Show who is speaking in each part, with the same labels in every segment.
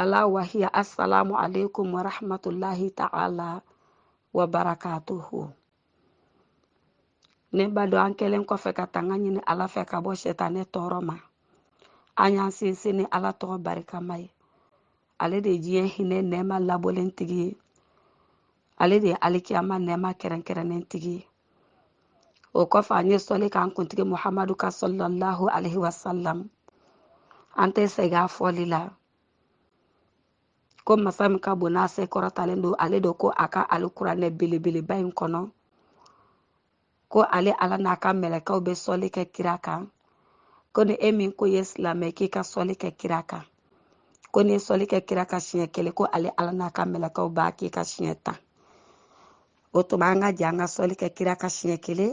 Speaker 1: ala wahiya assalamu alaikum wa rahmatullahi ta'ala wa barakatuhu ne badenw an kɛlen kɔfɛ ka tanga ɲini ala fɛ ka bɔ sɛtanɛ tɔɔrɔ ma an y'an sinsin ni ala tɔgɔ barikama ye ale de ye diɲɛ hinɛ nɛɛma labɔlen tigi ye ale de ye alikiyama nɛɛma kɛrɛnkɛrɛnnen tigi ye o kɔfɛ an ye sɔli k'an kuntigi muhamadu kan sallallahu alaihi wasalam an tɛ sɛgɛn a fɔli la ko masa min ka bon n'a se kɔrɔtalen don ale de ko a ka alikuranɛ belebeleba in kɔnɔ ko ale ala n'a ka mɛlɛkɛw bɛ sɔli kɛ kira kan ko ni e min ko i ye silamɛ k'i ka sɔli kɛ kira kan ko n'i sɔli kɛ kira kan siɲɛ kelen ko ale ala n'a ka mɛlɛkɛw b'a k'i kan siɲɛ tan o tuma an ka jɛ an ka sɔli kɛ kira kan siɲɛ kelen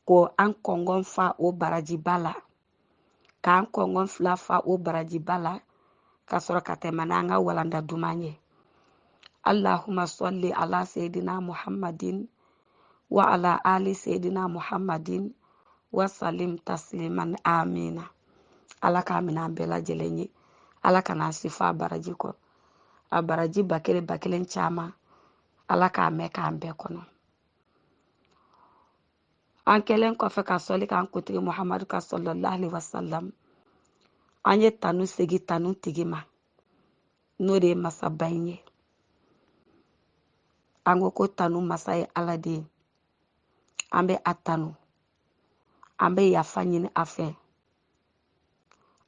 Speaker 1: ko an kɔngɔn fa o barajiba la k'an kɔngɔn fila fa o barajiba la ka sɔrɔ ka tɛmɛ n'an ka walanda duman ye allahuma salli ala seyidina muhammadin wa ala ali seyidina muhammadin wa salim tasliman amina ala k'a minɛ an bɛɛ lajɛlen ye ala kana an si fɔ a baraji kɔ a baraji ba kelen ba kelen caman ala k'a mɛn k'an bɛɛ kɔnɔ an kɛlen kɔfɛ ka sɔli k'an kuntigi muhamadu kan sallallahu alaihi wasalam an ye tanu segin tanu tigi ma n'o de ye masaba in ye an ko ko tanu masa ye ala de ye an bɛ a tanu an bɛ yafa ɲini a fɛ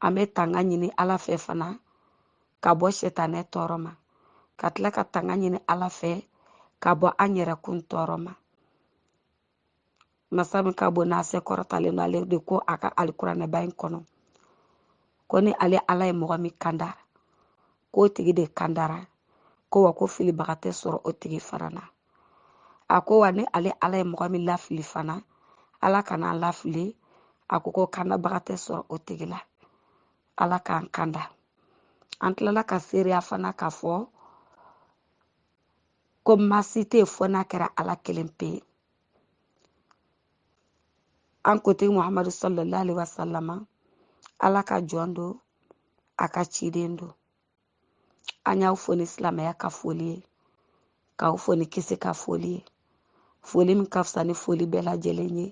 Speaker 1: an bɛ tanga ɲini ala fɛ fana ka bɔ sɛtanɛ tɔɔrɔ ma ka tila ka tanga ɲini ala fɛ ka bɔ an yɛrɛkun tɔɔrɔ ma masa min ka bon n'a se kɔrɔtalen don ale de ko a ka alikuranɛba in kɔnɔ ko ni ale ala ye mɔgɔ min kanda k'o tigi de kandara ko wa ko filibaga tɛ sɔrɔ o tigi fana na a ko wa ni ale ala ye mɔgɔ min lafili fana ala kana an lafili a ko ko kandabaga tɛ sɔrɔ o tigi la ala k'an kanda an tilala ka seereya fana k'a fɔ ko ma si tɛ yen fo n'a kɛra ala kelen pe ye an kuntigi muhamadu sallallahu alaihi wasallama ala ka jɔn don a ka ciden don an y'aw fo ni silamɛya ka foli ye k'aw fo ni kisi ka foli ye foli min ka fisa ni foli bɛɛ lajɛlen ye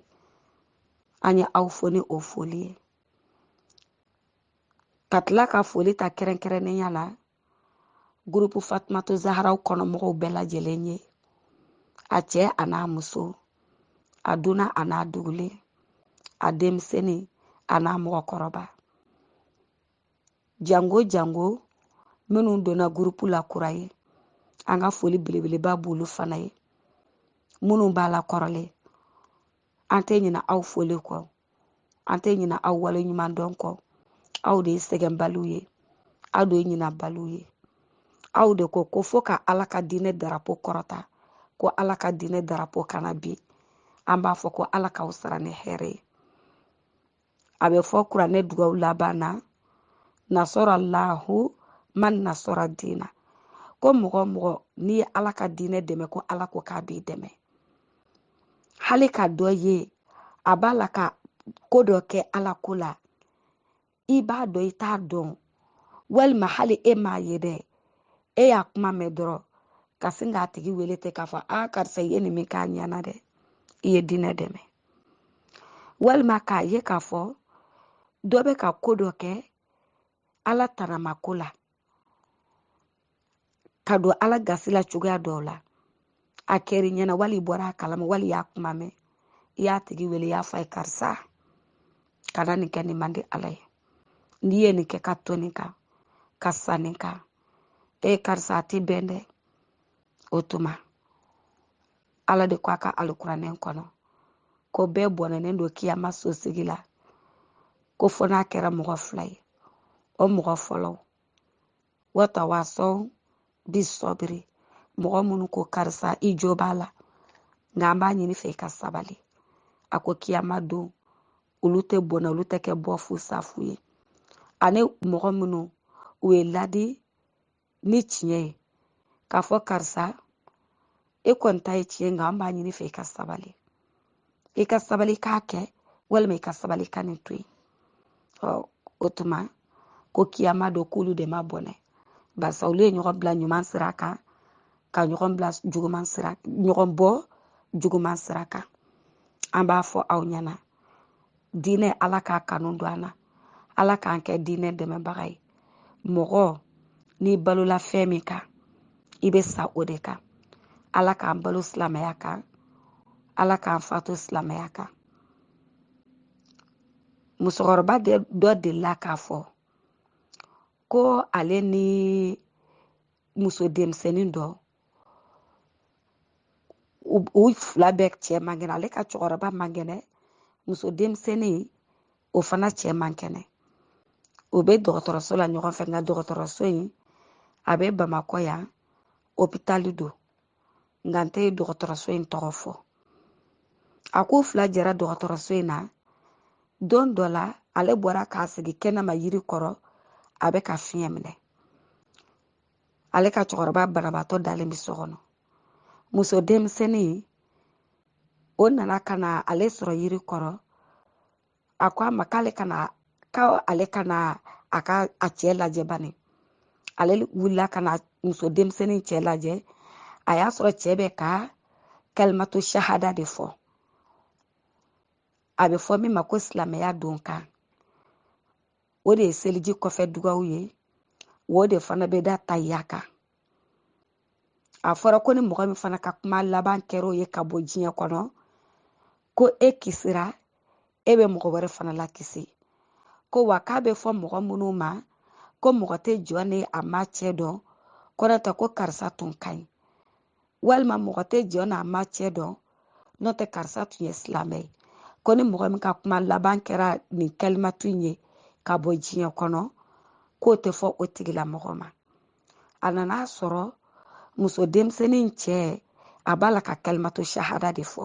Speaker 1: an ye aw fo ni o foli ye ka tila ka foli ta kɛrɛnkɛrɛnnenya la gurupu fatumatu zaharaw kɔnɔmɔgɔw bɛɛ lajɛlen ye a cɛ a n'a muso a dunan a n'a dugulen a denmisɛnnin a n'a mɔgɔkɔrɔba jango jango minnu donna gurupu la kura ye an ka foli belebeleba b'olu fana ye minnu b'a la kɔrɔlen an tɛ ɲina aw foli kɔ an tɛ ɲina aw wale ɲuman dɔn kɔ aw de ye sɛgɛnbaliw ye aw de ye ɲinabaliw ye aw de ko ko fo ka ala ka diinɛ darapo kɔrɔta ko ala ka diinɛ darapo kana bin an b'a fɔ ko ala k'aw sara ni hɛrɛ ye a bɛ fɔ kuranɛ dugaw laban na nasara lahu man nasara diina ko mɔgɔ o mɔgɔ n'i ye ala ka diinɛ dɛmɛ ko ala ko k'a b'i dɛmɛ hali ka dɔ ye a b'a la ka ko dɔ kɛ ala ko la i b'a dɔn i t'a dɔn walima hali e m'a ye dɛ e y'a kuma mɛn dɔrɔn ka sin k'a tigi wele ten k'a fɔ a karisa i ye nin min k'a ɲɛna dɛ i ye diinɛ dɛmɛ walima k'a ye k'a fɔ dɔ bɛ ka ko dɔ kɛ ala tanamako la ka don ala gasi la cogoya dɔw la a kɛr'i ɲɛna wali i bɔra a kalama wali i y'a kuma mɛn i y'a tigi wele i y'a fɔ a ye karisa kana nin kɛ nin man di ala ye n'i ye nin kɛ ka to nin kan ka sa nin kan e karisa a tɛ bɛn dɛ o tuma ala de ko a ka alikuranɛ kɔnɔ ko bɛɛ bɔnɛnen don kiyama so sigi la ko fo n'a kɛra mɔgɔ fila ye o mɔgɔ fɔlɔ watawasɔw bi sɔbiri mɔgɔ minnu ko karisa i jo b'a la nka an b'a ɲini i fɛ i ka sabali a ko kiyama don olu tɛ bɔnɛ olu tɛ kɛ bɔ fu sa fu ye ani mɔgɔ minnu u ye ladi ni tiɲɛ ye k'a fɔ karisa e kɔni ta ye tiɲɛ nka an b'a ɲini i fɛ i ka sabali i ka sabali k'a kɛ walima i ka sabali ka nin to yen ɔ o tuma ko kiyama don k'olu de ma bɔnɛ barisa olu ye ɲɔgɔn bila ɲuman sira kan ka ɲɔgɔn bila juguman sira ɲɔgɔn bɔ juguman sira kan an b'a fɔ aw ɲɛna diinɛ ala k'a kanu don an na ala k'an kɛ diinɛ dɛmɛbaga ye mɔgɔ n'i balola fɛn min kan i bɛ sa o de kan ala k'an balo silamɛya kan ala k'an fatu silamɛya kan musokɔrɔba dɔ delila k'a fɔ ko ale ni muso denmisɛnnin dɔ u fila bɛɛ cɛ man kɛnɛ ale ka cɛkɔrɔba man kɛnɛ muso denmisɛnnin o fana cɛ man kɛnɛ o bɛ dɔgɔtɔrɔso la ɲɔgɔn fɛ nka dɔgɔtɔrɔso in a bɛ bamakɔ yan opitali don nka n tɛ dɔgɔtɔrɔso in tɔgɔ fɔ a k'u fila jɛra dɔgɔtɔrɔso in na don dɔ la ale bɔra k'a sigi kɛnɛma yiri kɔrɔ a bɛ ka fiɲɛ minɛ ale ka cɛkɔrɔba banabaatɔ dalen bɛ so kɔnɔ muso denmisɛnnin o nana ka na ale sɔrɔ yiri kɔrɔ a ko a ma k'ale ka na k'ale ka na a ka a cɛ lajɛ bani ale wulila ka na muso denmisɛnnin cɛ lajɛ a y'a sɔrɔ cɛ bɛ ka kalimatu sahada de fɔ a bɛ fɔ min ma ko silamɛya don kan o de ye seliji kɔfɛ dugaw ye o de fana bɛ da tayiya kan a fɔra ko ni mɔgɔ min fana ka kuma laban kɛra o ye ka bɔ diɲɛ kɔnɔ ko e kisira e bɛ mɔgɔ wɛrɛ fana lakisi ko wa k'a bɛ fɔ mɔgɔ minnu ma ko mɔgɔ tɛ jɔn ni a ma cɛ dɔn ko n'o tɛ ko karisa tun ka ɲi walima mɔgɔ tɛ jɔn n'a ma cɛ dɔn n'o tɛ karisa tun ye silamɛ ye ko ni mɔgɔ min ka kuma laban kɛra nin kalimatu in ye ka bɔ diɲɛ kɔnɔ k'o tɛ fɔ o tigilamɔgɔ ma a nana a sɔrɔ muso denmisɛnnin cɛ a b'a la ka kalimatu sahada de fɔ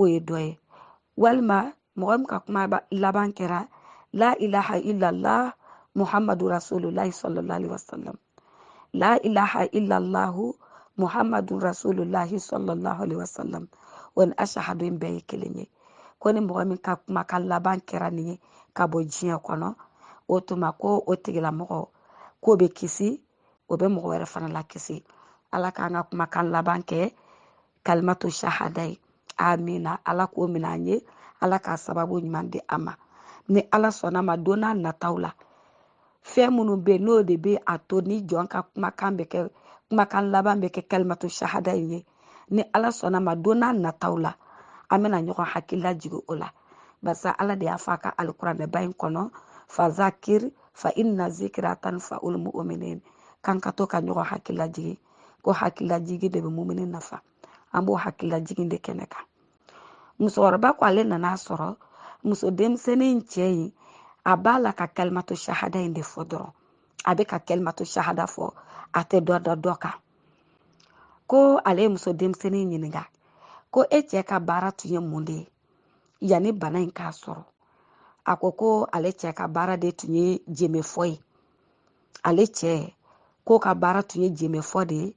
Speaker 1: o ye dɔ ye walima mɔgɔ min ka kuma laban kɛra la ilaha illallah muhammadu rasulullahi sallallahu alaihi wasallam la ilaha illallah muhammadu rasulullahi sallallahu alaihi wasallam o ni ashahadu in bɛɛ ye kelen ye ko ni mɔgɔ min ka kumakan laban kɛra nin ye ka bɔ diɲɛ kɔnɔ o tuma ko o tigilamɔgɔ k'o bɛ kisi o bɛ mɔgɔ wɛrɛ fana lakisi ala k'an ka kumakan laban kɛ kalimatu sahada ye amina ala k'o minɛ an ye ala k'a sababu ɲuman di an ma ni ala sɔnna a ma don n'a nataw la fɛn minnu bɛ yen n'o de bɛ a to ni jɔn ka kumakan bɛ kɛ kumakan laban bɛ kɛ kalimatu sahada in ye ni ala sɔnna a ma don n'a nataw la an bɛna ɲɔgɔn hakili lajigin o la barisa ala de y'a fɔ a ka alikuranɛba in kɔnɔ fazakir fa inna zikira tanfa'ul mu'minin k'an ka to ka ɲɔgɔn hakili lajigin ko hakililajigi de bɛ mumini nafa an b'o hakililajigi de kɛnɛ kan musokɔrɔba ko ale nana a sɔrɔ muso denmisɛnnin in cɛ in a b'a la ka kalimatu sahada in de fɔ dɔrɔn a bɛ ka kalimatu sahada fɔ a tɛ dɔ da dɔ kan ko ale ye muso denmisɛnnin in ɲininka ko e cɛ ka baara tun ye mun de ye yanni bana in k'a sɔrɔ a ko ko ale cɛ ka baara de tun ye jenbefɔ ye ale cɛ k'o ka baara tun ye jemefɔ de ye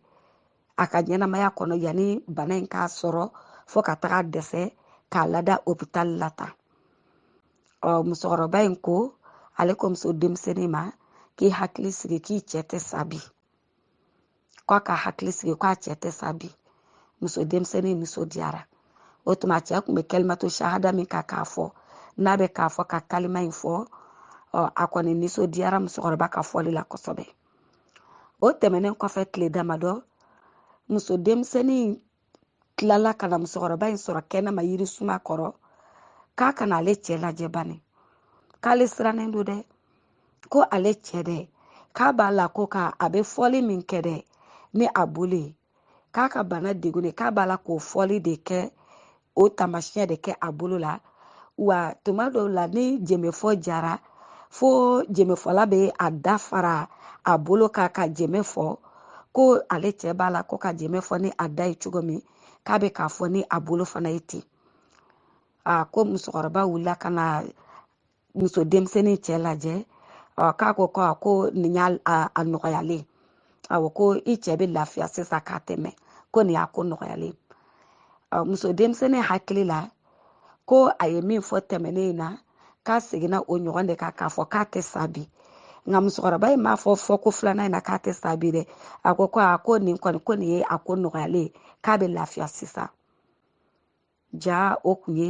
Speaker 1: a ka ɲɛnamaya kɔnɔ yanni bana in k'a sɔrɔ fo ka taga dɛsɛ k'a lada opitali la tan ɔ musokɔrɔba in ko ale ko muso denmisɛnnin ma k'i hakili sigi k'i cɛ tɛ sa bi k'a ka hakili sigi k'a cɛ tɛ sa bi muso denmisɛnnin nisɔndiyara o tuma cɛ kun bɛ kalimatu sahada min kan k'a fɔ n'a bɛ k'a fɔ ka kalima in fɔ a kɔni nisɔndiyara musokɔrɔba ka fɔli la kosɛbɛ o tɛmɛnen kɔfɛ tile damadɔ muso denmisɛnnin tilala ka na musokɔrɔba in sɔrɔ kɛnɛma yiri suma kɔrɔ k'a ka na ale cɛ lajɛ bani k'ale sirannen don dɛ ko ale cɛ dɛ k'a b'a la ko ka a bɛ fɔli min kɛ dɛ ni a bolo ye k'a ka bana degun de k'a b'a la k'o fɔli de kɛ o taamasiyɛn de kɛ a bolo la wa tuma dɔw la ni jemefɔ diyara fo jemefɔla bɛ a da fara a bolo kan ka jeme fɔ ko ale cɛ b'a la ko ka jeme fɔ ni a da ye cogo min k'a bɛ k'a fɔ ni a bolo fana ye ten a ko musokɔrɔba wulila ka na muso denmisɛnnin cɛ lajɛ k'a ko ko a ko nin y'a a nɔgɔyalen awɔ ko i cɛ bɛ lafiya sisan k'a tɛmɛ ko nin y'a ko nɔgɔyalen muso denmisɛnnin hakili la ko a ye min fɔ tɛmɛnen in na k'a seginna o ɲɔgɔn de kan k'a fɔ k'a tɛ sa bi nka musokɔrɔba in m'a fɔ fɔ ko filanan in na k'a tɛ sa bi dɛ a ko ko a ko nin kɔni ko nin ye a ko nɔgɔyalen k'a bɛ lafiya sisan jaa o kun ye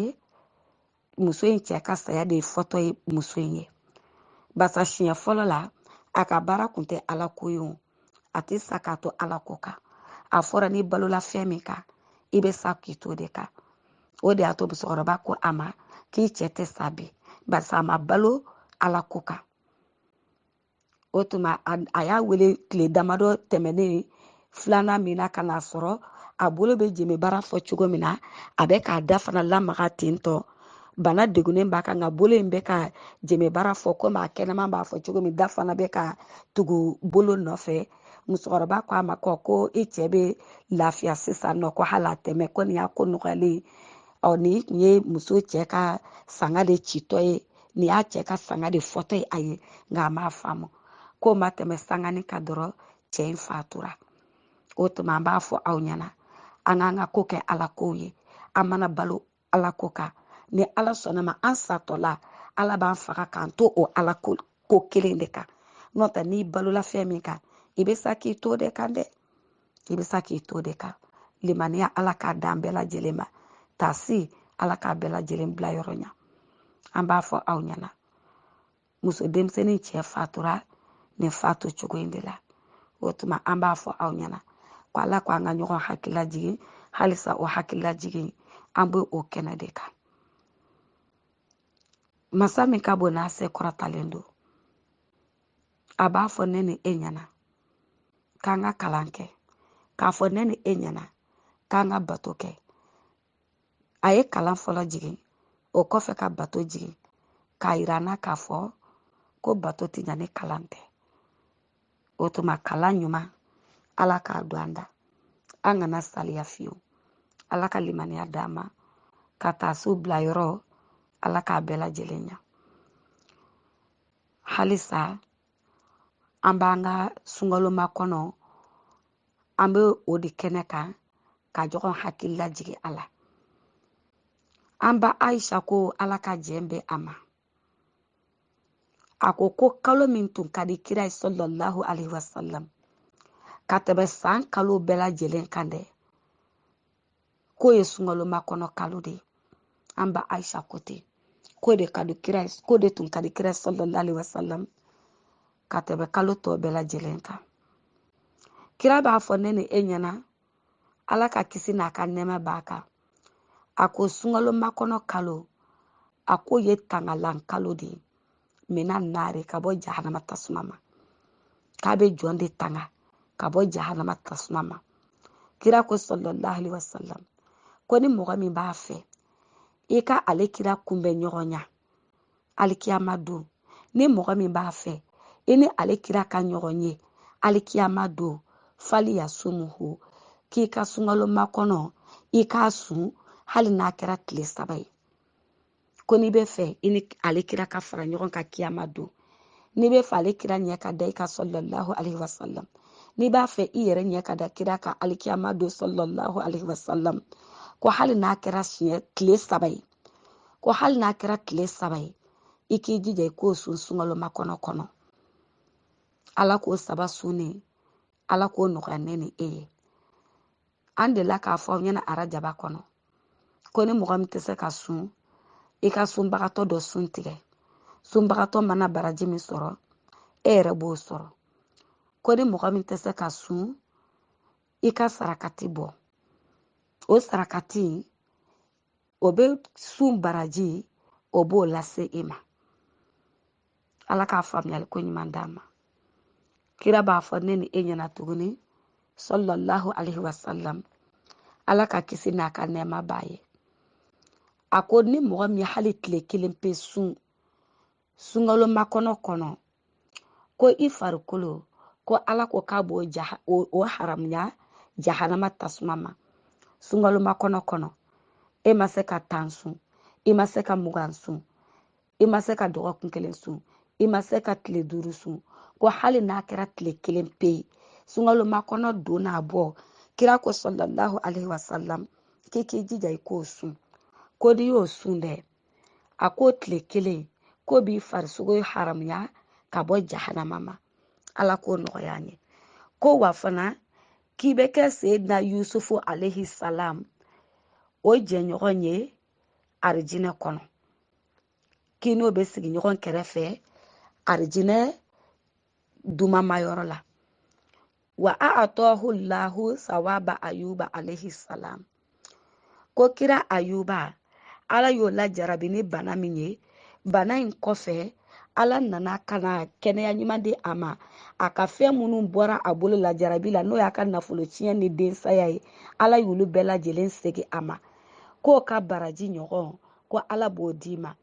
Speaker 1: muso in cɛ ka saya de fɔtɔ ye muso in ye basa siɲɛ fɔlɔ la a ka baara kun tɛ ala ko ye o a tɛ sa k'a to ala ko kan a fɔra n'i balola fɛn min kan i bɛ sa k'i t'o de kan o de y'a to musokɔrɔba ko a ma k'i cɛ tɛ sa bi barisa a ma balo ala ko kan o tuma a y'a wele tile damadɔ tɛmɛnen filanan min na ka n'a sɔrɔ a bolo bɛ jeme baara fɔ cogo min na a bɛ k'a da fana lamaga ten tɔ bana degunnen b'a kan nka bolo in bɛ ka jeme baara fɔ komi a kɛnɛma b'a fɔ cogo min da fana bɛ ka tugu bolo nɔfɛ musokɔrɔba ko a ma ko ko i cɛ bɛ lafiya sisan nɔ ko hali a tɛmɛ ko nin y'a ko nɔgɔyalen ɔ nin tun ye muso cɛ ka sanga de citɔ ye nin y'a cɛ ka sanga de fɔtɔ ye a ye nka a m'a faamu k'o ma tɛmɛ sanganin kan dɔrɔn cɛ in fatura o tuma an b'a fɔ aw ɲɛna an k'an ka ko kɛ ala kow ye an mana balo ala ko kan ni ala sɔnna ma an satɔla ala b'an faga k'an to o ala ko kelen de kan n'o tɛ n'i balola fɛn min kan i bɛ sa k'i t'o de kan dɛ k'i bɛ sa k'i to de kan limaniya ala k'a d'an bɛɛ lajɛlen ma tasi ala k'a bɛɛ lajɛlen bila yɔrɔ ɲa an b'a fɔ aw ɲɛna muso denmisɛnnin cɛ fatura nin fatu cogo in de la o tuma an b'a fɔ aw ɲɛna ko ala ko an ka ɲɔgɔn hakili lajigin halisa o hakili lajigin an bɛ o kɛnɛ de kan masa min ka bon n'a se kɔrɔtalen don a b'a fɔ ne ni e ɲɛna k'an ka kalan kɛ k'a fɔ ne ni e ɲɛna k'an ka bato kɛ a ye kalan fɔlɔ jigin o kɔfɛ ka bato jigin k'a yira an na k'a fɔ ko bato tɛ ɲa ni kalan tɛ o tuma kalan ɲuman ala k'a don an da an kana saliya fiyewu ala ka limaniya d'an ma ka taa so bila yɔrɔ ala k'a bɛɛ lajɛlen ɲa halisa an b'an ka sunkalo makɔnɔ an bɛ o de kɛnɛ kan ka ɲɔgɔn hakili lajigin a la an ba ayisa ko ala ka jɛn bɛ a ma a ko ko kalo min tun ka di kira ye sallallahu alaihi wasallam ka tɛmɛ san kalo bɛɛ lajɛlen kan dɛ k'o ye sunkalo makɔnɔ kalo de ye an ba ayisa ko ten k'o de k'o de tun ka di kira ye sallallahu alaihi wasallam ka tɛmɛ kalo tɔ bɛɛ lajɛlen kan kira b'a fɔ ne ni e ɲɛna ala ka kisi n'a ka nɛɛma b'a kan a ko sunkalo makɔnɔ kalo a k'o ye tangalan kalo de ye minan naari ka bɔ jahanama tasuma ma k'a bɛ jɔn de tanga ka bɔ jahanama tasuma ma kira ko sallallahu alaihi wasallam ko ni mɔgɔ min b'a fɛ i ka ale kira kunbɛnɲɔgɔnya alikiyama don ni mɔgɔ min b'a fɛ i ni ale kira ka ɲɔgɔn ye alikiyama don faliyasumuhu k'i ka sunkalo makɔnɔ i k'a sun hali n'a kɛra tile saba ye ko n'i bɛ fɛ i ni ale kira ka fara ɲɔgɔn kan kiyama don n'i bɛ fɛ ale kira ɲɛ ka da i kan sallallahu alayhi wa sallam n'i b'a fɛ i yɛrɛ ɲɛ ka da kira kan alikiyama don sallallahu alayhi wa sallam ko hali n'a kɛra tile saba ye ko hali n'a kɛra tile saba ye i k'i jija i k'o sun sunkalo makɔnɔ kɔnɔ ala k'o saba sunni ala k'o nɔgɔya ne ni e ye an delila k'a fɔ aw ɲɛna arajaba kɔnɔ ko ni mɔgɔ min tɛ se ka sun i ka sunbagatɔ dɔ sun tigɛ sunbagatɔ mana baraji min sɔrɔ e yɛrɛ b'o sɔrɔ ko ni mɔgɔ min tɛ se ka sun i ka sarakati bɔ o sarakati o bɛ sun baraji o b'o lase e ma ala k'a faamuyali ko ɲuman d'an ma kira b'a fɔ ne ni e ɲɛna tuguni sallallahu alaihi wasallam ala ka kisi n'a ka nɛɛma b'a ye a ko ni mɔgɔ min hali tile kelen pe sun sunkalo makɔnɔ kɔnɔ ko i farikolo ko ala ko k'a b'o o haramuya jahanama tasuma ma sunkalo makɔnɔ kɔnɔ e ma se ka tan sun i ma se ka mugan sun i ma se ka dɔgɔkun kelen sun i ma se ka tile duuru sun ko hali n'a kɛra tile kelen pe ye sunkalo makɔnɔ don n'a bɔ kira ko sallallahu alaihi wasalam k'i k'i jija i k'o sun ko n'i y'o sun dɛ a ko tile kelen k'o b'i farisogo haramuya ka bɔ jahanama ma ala k'o nɔgɔya an ye ko wa fana k'i bɛ kɛ seyidina yusufu alaihi salam o jɛɲɔgɔn ye arijinɛ kɔnɔ k'i n'o bɛ sigi ɲɔgɔn kɛrɛfɛ arijinɛ dumanmayɔrɔ la wa a atɔhu lahu sawaba ayuba alayhi salam ko kira ayuba ala y'o lajarabi ni bana min ye bana in kɔfɛ ala nana ka na kɛnɛya ɲuman di a ma a ka fɛn minnu bɔra a bolo lajarabi la n'o y'a ka nafolo tiɲɛ ni densaya ye ala y'olu bɛɛ lajɛlen segin a ma k'o ka baraji ɲɔgɔn ko ala b'o d'i ma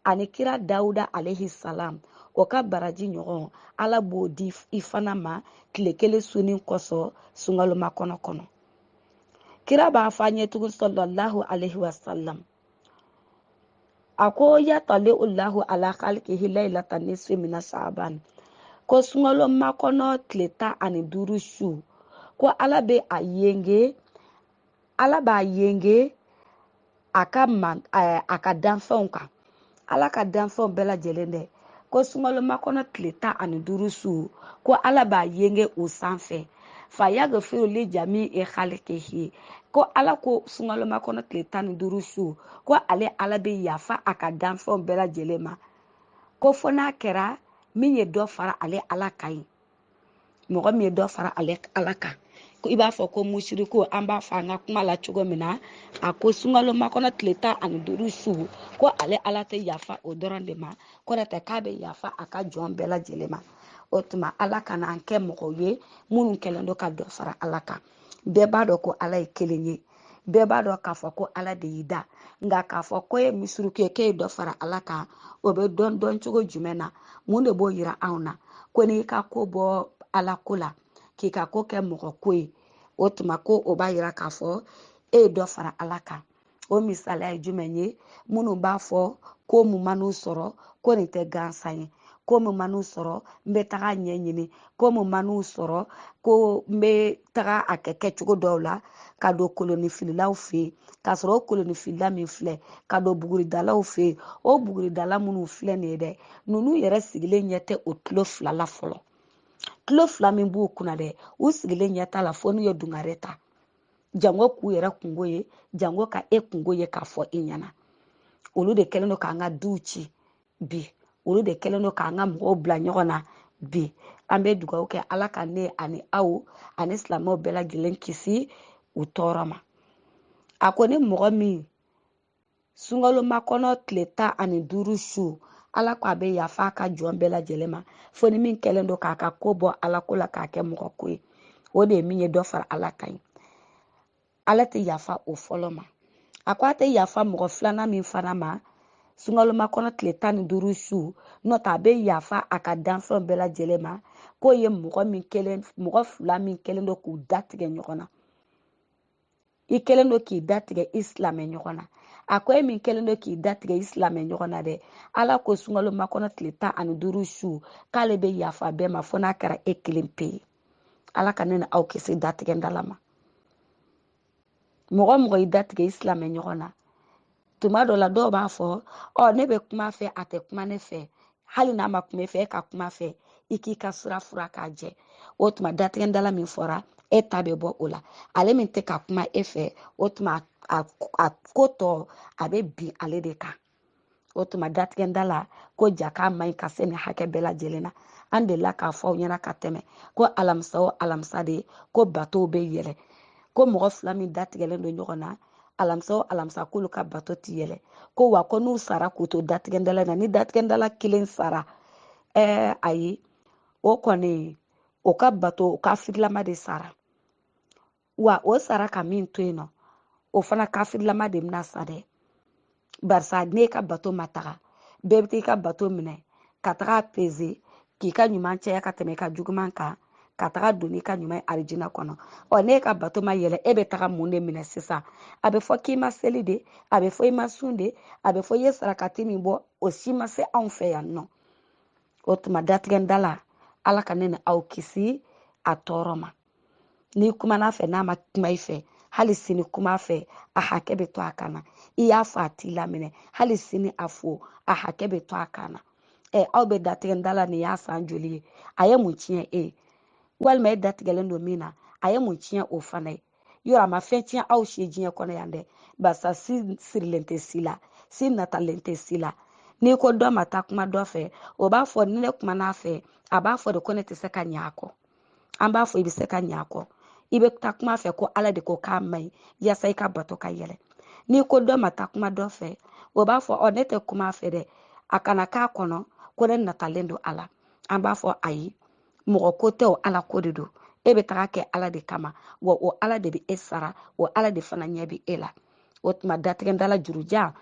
Speaker 1: ani kira dawuda alaihi salam o ka baraji ɲɔgɔn ala b'o di i fana ma tile kelen sunni kosɔn sunkalo makɔnɔ kɔnɔ kira b'a fɔ an ye tugun sallallahu alaihi wasalam a ko yatali ulahu ala khalikihi lailata nisfi mina shaban ko sunkalo makɔnɔ tile tan ani duuru su ko ala bɛ a yenge ala b'a yenge a ka man eh, a ka danfɛnw kan ala ka danfɛnw bɛɛ lajɛlen dɛ ko sunkalo makɔnɔ tile tan ani duuru su ko ala b'a yenge o sanfɛ fa yagfiru li jami i khalikihi ko ala ko sunkalo makɔnɔ tile tan ni duuru su ko ale ala bɛ yafa a ka danfɛnw bɛɛ lajɛlen ma ko fo n'a kɛra min ye dɔ fara ale ala kan ye mɔgɔ min ye dɔ fara ale ala kan i b'a fɔ ko musiriku an b'a fɔ an ka kuma la cogo min na a ko sunkalo makɔnɔ tile tan ani duuru su ko ale ala tɛ yafa o dɔrɔn de ma ko n'o tɛ k'a bɛ yafa a ka jɔn bɛɛ lajɛlen ma o tuma ala kana an kɛ mɔgɔw ye minnu kɛlen don ka dɔ fara ala kan bɛɛ b'a dɔn ko ala ye kelen ye bɛɛ b'a dɔn k'a fɔ ko ala de y'i da nka k'a fɔ ko e ye misuruku ye k'e ye dɔ fara ala kan o bɛ dɔn dɔn cogo jumɛn na mun de b'o yira anw na ko n'i ka ko bɔ ala ko la k'i ka ko kɛ mɔgɔ ko ye o tuma ko o b'a yira k'a fɔ e ye dɔ fara ala kan o misaliya ye jumɛn ye minnu b'a fɔ ko mun man'u sɔrɔ ko nin tɛ gansan ye ko mun man'u sɔrɔ n bɛ taga ɲɛɲini ko mun man'u sɔrɔ ko n bɛ taga a kɛ kɛcogo dɔw la ka don kolonifililaw fɛ yen k'a sɔrɔ o kolonifilila min filɛ ka don buguridalaw fɛ yen o buguridala minnu filɛ nin ye dɛ ninnu yɛrɛ sigilen ɲɛ tɛ o tulo fila la fɔlɔ tulo fila min b'u kunna dɛ u sigilen ɲɛ t'a la fo n'u ye dungare ta jango k'u yɛrɛ kungo ye jango ka e kungo ye k'a fɔ i ɲɛna olu de kɛlen don k'an ka duw ci bi olu de kɛlen don k'an ka mɔgɔw bila ɲɔgɔn na bi an bɛ dugawu kɛ ala ka ne ani aw ani silamɛw bɛɛ lajɛlen kisi u tɔɔrɔ ma a ko ni mɔgɔ min sunkalo makɔnɔ tile tan ani duuru su ala ko a bɛ yafa a ka jɔn bɛɛ lajɛlen ma fo ni min kɛlen don k'a ka ko bɔ ala ko la k'a kɛ mɔgɔ ko ye o de ye min ye dɔ fara ala kan ye ala tɛ yafa o fɔlɔ ma a ko a tɛ yafa mɔgɔ filanan min fana ma sunkalo makɔnɔ tile tan ni duuru su n'o tɛ a bɛ yafa a ka danfɛnw bɛɛ lajɛlen ma k'o ye mɔgɔ min kɛlen mɔgɔ fila min kɛlen don k'u datigɛ ɲɔgɔn na i kɛlen don k'i datigɛ i silamɛ ɲɔgɔn na a ko e min kɛlen don k'i datigɛ i silamɛ ɲɔgɔn na dɛ ala ko sunkalo makɔnɔ tile tan ani duuru su k'ale bɛ yafa bɛɛ ma fo n'a kɛra e kelen pe ye ala ka ne ni aw kisi datigɛndala ma mɔgɔ mɔgɔ i datigɛ i silamɛ ɲɔgɔn na tuma dɔ la dɔw b'a fɔ ɔ ne bɛ kuma fɛ a tɛ kuma ne fɛ hali n'a ma kuma fɛ e ka kuma fɛ i k'i ka sira furan k'a jɛ o tuma datigɛndala min fɔra e ta bɛ bɔ o la ale min tɛ ka kuma e fɛ o tuma a ko tɔ a bɛ bin ale de kan o tuma datigɛndala ko ja k'a man ɲi ka se nin hakɛ bɛɛ lajɛlen na an delila k'a fɔ aw ɲɛna ka tɛmɛ ko alamisa o alamisa de ko batow bɛ yɛlɛ ko mɔgɔ fila min datigɛlen don ɲɔgɔn na alamisa o alamisa k'olu ka bato ti yɛlɛ ko wa ko n'u sara k'u to datigɛndala na ni datigɛndala kelen sara ɛɛ ayi o kɔni o ka bato o kafirilama de sara wa o sara ka min to yen nɔ o fana kafirilama de bɛna sa dɛ barisa n'e ka bato ma taga bɛɛ bɛ t'i ka bato minɛ ka taga peze k'i ka ɲuman caya ka tɛmɛ i ka juguman kan ka taga don n'i ka ɲuman ye arijina kɔnɔ ɔ n'e ka bato ma yɛlɛ e bɛ taga mun de minɛ sisan a bɛ fɔ k'i ma seli de a bɛ fɔ i ma sun de a bɛ fɔ i ye sarakati min bɔ o si ma se anw fɛ yan nɔ o tuma datigɛndala ala ka ne ni aw kisi a tɔɔrɔ ma n'i kumana fɛ n'a ma kuma i fɛ hali sini kuma fɛ a hakɛ bɛ to a kan na i y'a fo a t'i laminɛ hali sini a fo a hakɛ bɛ to a kan na ɛ aw bɛ datigɛ da la nin y'a san joli ye a ye mun tiɲɛ e ye walima e datigɛlen don min na a ye mun tiɲɛ o fana ye yɔrɔ a ma fɛn tiɲɛ aw si diɲɛ kɔnɔ yan dɛ barisa si sirilen tɛ si la si natalen tɛ si la n'i ko dɔ ma taa kuma dɔ fɛ o b'a fɔ ni ne kumana a fɛ a b'a fɔ de ko ne tɛ se ka ɲɛ a kɔ an b'a fɔ i bɛ se ka ɲ'a kɔ i bɛ taa kuma fɛ ko ala de ko k'a man ɲi yaasa i ka bato ka yɛlɛ n'i ko dɔ ma taa kuma dɔ fɛ o b'a fɔ ɔ ne tɛ kuma fɛ dɛ a kana k'a kɔnɔ ko ne natalen don a la an b'a fɔ ayi mɔgɔ ko tɛ o ala ko de don e bɛ taga kɛ ala de kama wa o ala de bɛ e sara o ala de fana ɲɛ bɛ e la o tuma datigɛdala jurujan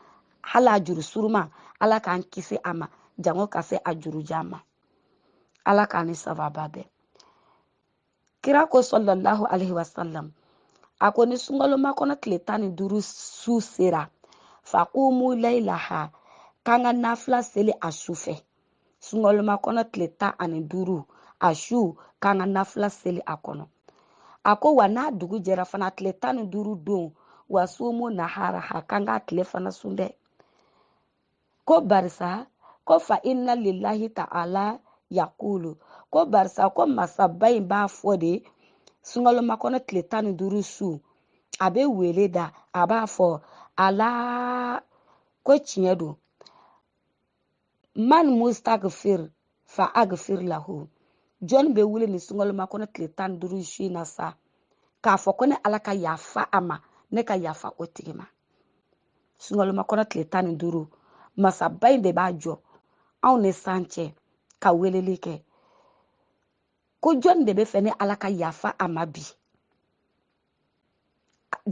Speaker 1: hali a juru suruma ala k'an kisi a ma jango ka se a jurujan ma ala k'an ni sababa bɛn kira ko sallallahu alaihi wasallam a ko ni sunkalomakɔnɔ tile tan ni duuru su sera fakumu layilaha k'an ka nafila seli a su fɛ sunkalomakɔnɔ tile tan ani duuru a su k'an ka nafila seli a kɔnɔ a ko wa n'a dugu jɛra fana tile tan ni duuru don wa sumu naharaha k'an k'a tile fana sun dɛ ko barisa ko fa inna lillahi ta'ala yakulu ko barisa ko masaba in b'a fɔ de sunkalomakɔnɔ tile tan ni duuru su a bɛ wele da a b'a fɔ ala ko tiɲɛ don man mustagfir fa agfir lahu jɔnni bɛ wuli nin sunkalomakɔnɔ tile tan ni duuru su in na sa k'a fɔ ko ne ala ka yafa a ma ne ka yafa o tigi ma sungalomakɔnɔ tile tan ni duuru masaba in de b'a jɔ anw ni san cɛ ka weleli kɛ ko jɔni de b'a fɛ ne ala ka yafa a ma bi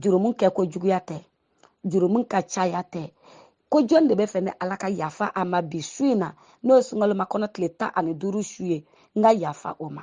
Speaker 1: jurumu kɛko juguya tɛ jurumu ka caya tɛ ko jɔni de b'a fɛ ne ala ka yafa a ma bi su in na n'o ye sungalomakɔnɔ tile tan ani duuru su ye n ka yafa o ma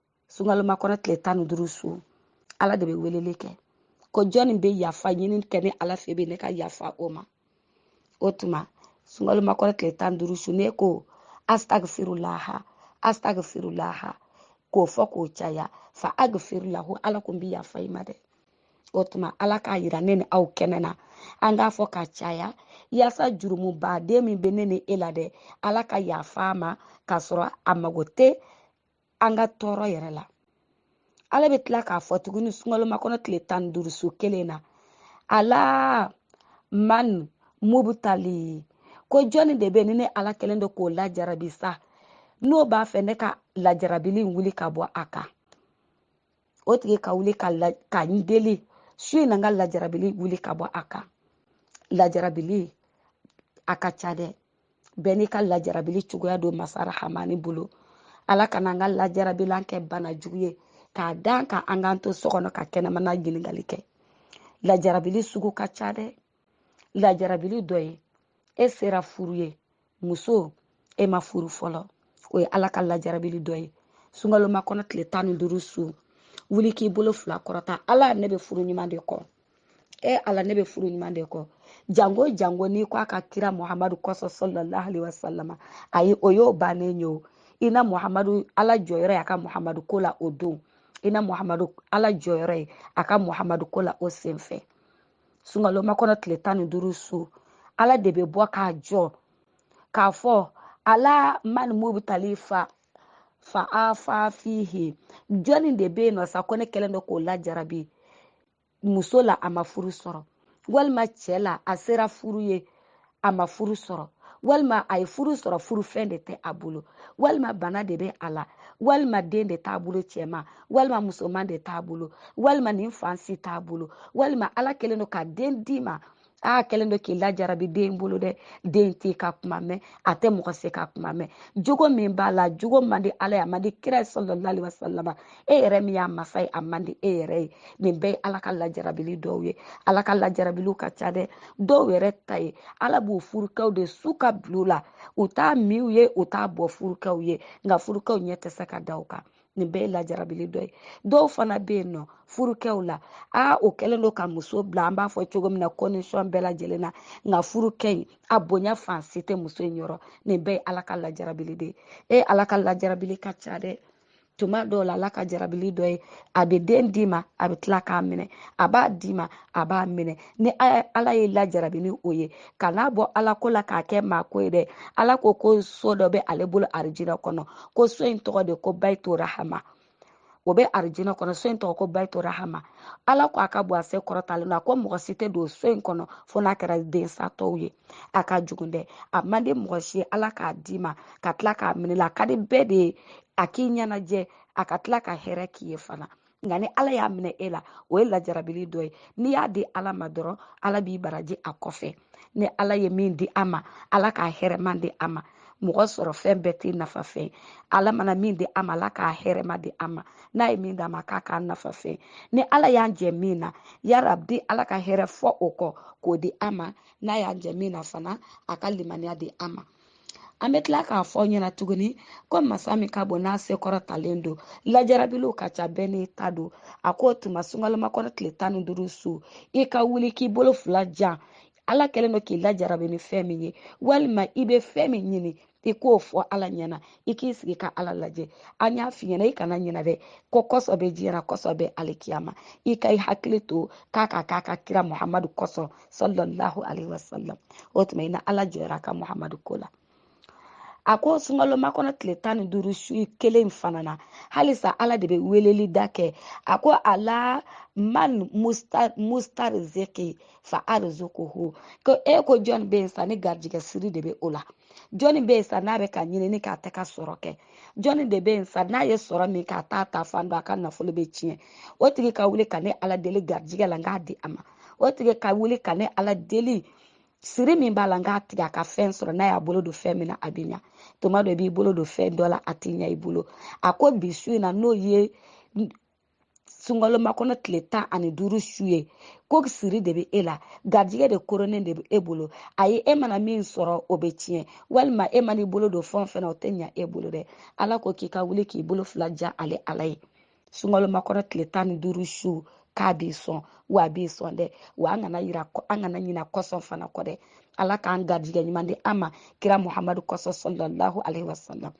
Speaker 1: sungalomakɔnɔ tile tan ni duuru su ala de bɛ weleli kɛ ko jɔnni bɛ yafa ɲini kɛ ne ala fɛ bi ne ka yafa o ma o tuma sungalomakɔnɔ tile tan ni duuru su ne ko astagfirulaha astagfirulaha k'o fɔ k'o caya fa agfir lahu ala ko n bɛ yafa i ma dɛ o tuma ala k'a yira ne ni aw kɛnɛ na an k'a fɔ ka caya yaasa jurumubaden min bɛ ne ni e la dɛ ala ka yafa a ma k'a sɔrɔ a mago tɛ an ka tɔɔrɔ yɛrɛ la ala bɛ tila k'a fɔ tuguni sunkalo makɔnɔ tile tan ni duuru su kelen na ala man mubutali ko jɔnni de bɛ ni ne ala kɛlen don k'o lajarabi sa n'o b'a fɛ ne ka lajarabili wuli ka bɔ a kan o tigi ka wuli ka n deli su in na n ka lajarabili wuli ka bɔ a kan lajarabili a ka ca dɛ bɛɛ n'i ka lajarabili cogoya don masa rahamani bolo ala kana an ka lajarabilan kɛ bana jugu ye k'a da an kan k'an to so kɔnɔ ka kɛnɛmana ɲininkali kɛ lajarabili sugu ka ca dɛ lajarabili dɔ ye e sera furu ye muso e ma furu fɔlɔ o ye ala ka lajarabili dɔ ye sunkalo makɔnɔ tile tan ni duuru su wuli k'i bolo fila kɔrɔta ala ne bɛ furu ɲuman de kɔ e ala ne bɛ furu ɲuman de kɔ jango jango n'i ko a ka kira muhamadu kosɔn sallallahu alaihi wasallam ayi o y'o bannen ye o i na muhamadu ala jɔyɔrɔ y'a ka muhamadu ko la o don i na muhamadu ala jɔyɔrɔ ye a ka muhamadu ko la o senfɛ sunkalo makɔnɔ tile tan ni duuru su ala de bɛ bɔ k'a jɔ k'a fɔ ala man mubutali fa afa fihi jɔnni de bɛ yen nɔ sa ko ne kɛlen don k'o lajarabi muso la a ma furu sɔrɔ walima cɛ la a sera furu ye a ma furu sɔrɔ walima a ye furu sɔrɔ furufɛn de tɛ a bolo walima bana de bɛ a la walima den de t'a bolo cɛman walima musoman de t'a bolo walima nin fan si t'a bolo walima ala kɛlen don ka den d'i ma aa kɛlen don k'i lajarabi den bolo dɛ den t'i ka kuma mɛn a tɛ mɔgɔ si ka kuma mɛn jogo min b'a la jogo man di ala ye a man di kira ye sallallahu alaihi wasallam e yɛrɛ min y'a masa ye a man di e yɛrɛ ye nin bɛɛ ye ala ka lajarabili dɔw ye ala ka lajarabiliw ka ca dɛ dɔw yɛrɛ ta ye ala b'u furukɛw de su ka bila u la u t'a min u ye u t'a bɔ furukɛw ye nka furukɛw ɲɛ tɛ se ka da u kan nin bɛɛ ye lajarabili dɔ ye dɔw fana bɛ yen nɔ furukɛw la o kɛlen don ka muso bila an b'a fɔ cogo min na condition bɛɛ lajɛlen na nka furukɛ in a bonya fan si tɛ muso in yɔrɔ nin bɛɛ ye ala ka lajarabili de ye ala ka lajarabili ka ca dɛ tuma dɔw la ala ka jarabili dɔ ye a bɛ den d'i ma a bɛ tila k'a minɛ a b'a d'i ma a b'a minɛ ni ala y'e lajarabi ni o ye kan'a bɔ ala ko la k'a kɛ maa ko ye dɛ ala ko ko so dɔ bɛ ale bolo arijinɛ kɔnɔ ko so in tɔgɔ de ko bayitu rahama o bɛ arijinɛ kɔnɔ so in tɔgɔ ko bayitu rahama ala ko a ka bɔ a se kɔrɔtalen na ko mɔgɔ si tɛ don so in kɔnɔ fo n'a kɛra densatɔw ye a ka jugu dɛ a man di mɔgɔ si ye ala k'a d'i ma ka tila k'a minɛ i la a ka di bɛɛ de ye a k'i ɲɛnajɛ a ka tila ka hɛrɛ k'i ye fana nka ni ala y'a minɛ e la o ye lajarabili dɔ ye n'i y'a di ala ma dɔrɔn ala b'i baraji a kɔfɛ ni ala ye min di a ma ala k'a hɛrɛman di a ma mɔgɔ sɔrɔ fɛn bɛɛ tɛ nafa fɛn ala mana min di a ma ala k'a hɛrɛman di a ma n'a ye min d'a ma k'a k'a nafa fɛn ni ala y'an jɛ min na yarabi ala ka hɛrɛ fɔ o kɔ k'o di a ma n'a y'an jɛ min na fana a ka limaniya di a ma an bɛ tila k'a fɔ ɲɛna tuguni ko masa min ka bon n'a se kɔrɔtalen don lajarabiliw ka ca bɛɛ n'i ta don a ko o tuma sunkalomakɔnɔ tile tan ni duuru su i ka wuli k'i bolo fila jan ala kɛlen don k'i lajarabi ni fɛn min ye walima i bɛ fɛn min ɲini i k'o fɔ ala ɲɛna i k'i sigi ka ala lajɛ an y'a f'i ɲɛna i kana ɲina dɛ ko kɔsɔn bɛ diɲɛ la kɔsɔn bɛ alikiyama i ka i hakili to k'a ka k'a ka kira muhamadu kɔsɔn sallallahu alaihi wasallam o tuma ina ala jɔra a ka muhamadu ko la a ko sunkalomakɔnɔ tile tan ni duuru su kelen fana na halisa ala de bɛ weleli da kɛ a ko ala man mustarziki fa arzukuhu ko e ko jɔn bɛ yen sa ni garijɛgɛ siri de bɛ o la jɔnni bɛ yen sa n'a bɛ ka ɲinini k'a tɛ ka sɔrɔ kɛ jɔnni de bɛ yen sa n'a ye sɔrɔ min k'a t'a taafan dɔn a ka nafolo bɛ tiɲɛ o tigi ka wuli ka ne ala deli garijɛgɛ la n k'a di a ma o tigi ka wuli ka ne ala deli siri min b'a la n k'a tigɛ a ka fɛn sɔrɔ n'a y'a bolo don fɛn min na a bɛ ɲa tuma dɔ i b'i bolo don fɛn dɔ la a tɛ ɲa i bolo a ko bi su in na n'o ye sunkalomakɔnɔ tile tan ani duuru su ye ko siri de bɛ e la garijɛgɛ de koronnen de bɛ e bolo ayi e mana min sɔrɔ o bɛ tiɲɛ walima e mana i bolo don fɛn o fɛn na o tɛ ɲa e bolo dɛ ala ko k'i ka wuli k'i bolo fila jan ale ala ye sunkalomakɔnɔ tile tan ni duuru su k'a b'i sɔn wa a b'i sɔn dɛ wa an kana ɲina an kana ɲina kɔsɔn fana kɔ dɛ ala k'an garijɛgɛ ɲuman di an ma kira muhamadu kɔsɔn sallallahu alaihi wasallam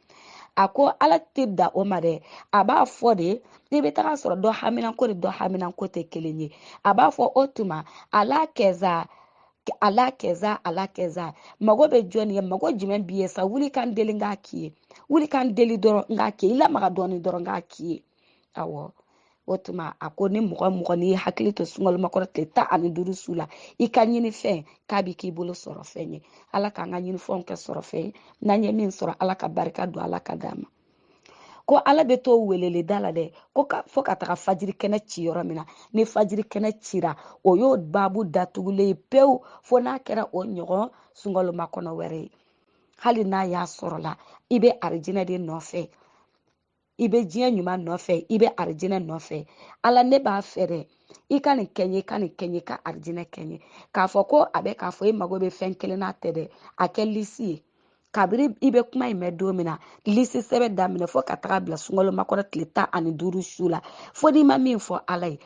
Speaker 1: a ko ala tɛ dan o ma dɛ a b'a fɔ de i bɛ taga sɔrɔ dɔ haminanko ni dɔ haminanko tɛ kelen ye a b'a fɔ o tuma ala kɛza ala kɛza ala kɛza mago bɛ jɔni ye mago jumɛn b'i ye sa wuli ka n deli k'a k'i ye wuli ka n deli dɔrɔn n k'a k'i ye i lamaga dɔɔni dɔrɔn k'a k'i ye awɔ o tuma a ko ni mɔgɔ mɔgɔ n'i hakili to sunkalomakɔnɔ tile tan ani duuru su la i ka ɲini fɛn k'a bɛ k'i bolo sɔrɔ fɛn ye ala k'an ka ɲinifɛnw kɛ sɔrɔ fɛn ye n'an ye min sɔrɔ ala ka barika don a la k'a d'a ma ko ala bɛ to weleleda la dɛ ko fo ka taga fajiri kɛnɛ ci yɔrɔ min na ni fajiri kɛnɛ cira o y'o baabu datugulen ye pewu fo n'a kɛra o ɲɔgɔn sunkalomakɔnɔ wɛrɛ ye hali n'a y'a sɔrɔla i bɛ arijinɛ de nɔfɛ i bɛ diɲɛ ɲuman nɔfɛ i bɛ arijinɛ nɔfɛ ala ne b'a fɛ dɛ i ka nin kɛ n ye ka nin kɛ n ye ka arijinɛ kɛ n ye k'a fɔ ko a bɛ k'a fɔ e mago bɛ fɛn kelen na tɛ dɛ a kɛ lisi ye kabiri i bɛ kuma in mɛn don min na lisi sɛbɛn daminɛ fo ka taga bila sunkalo makɔnɔ tile tan ani duuru su la fo n'i ma min fɔ ala ye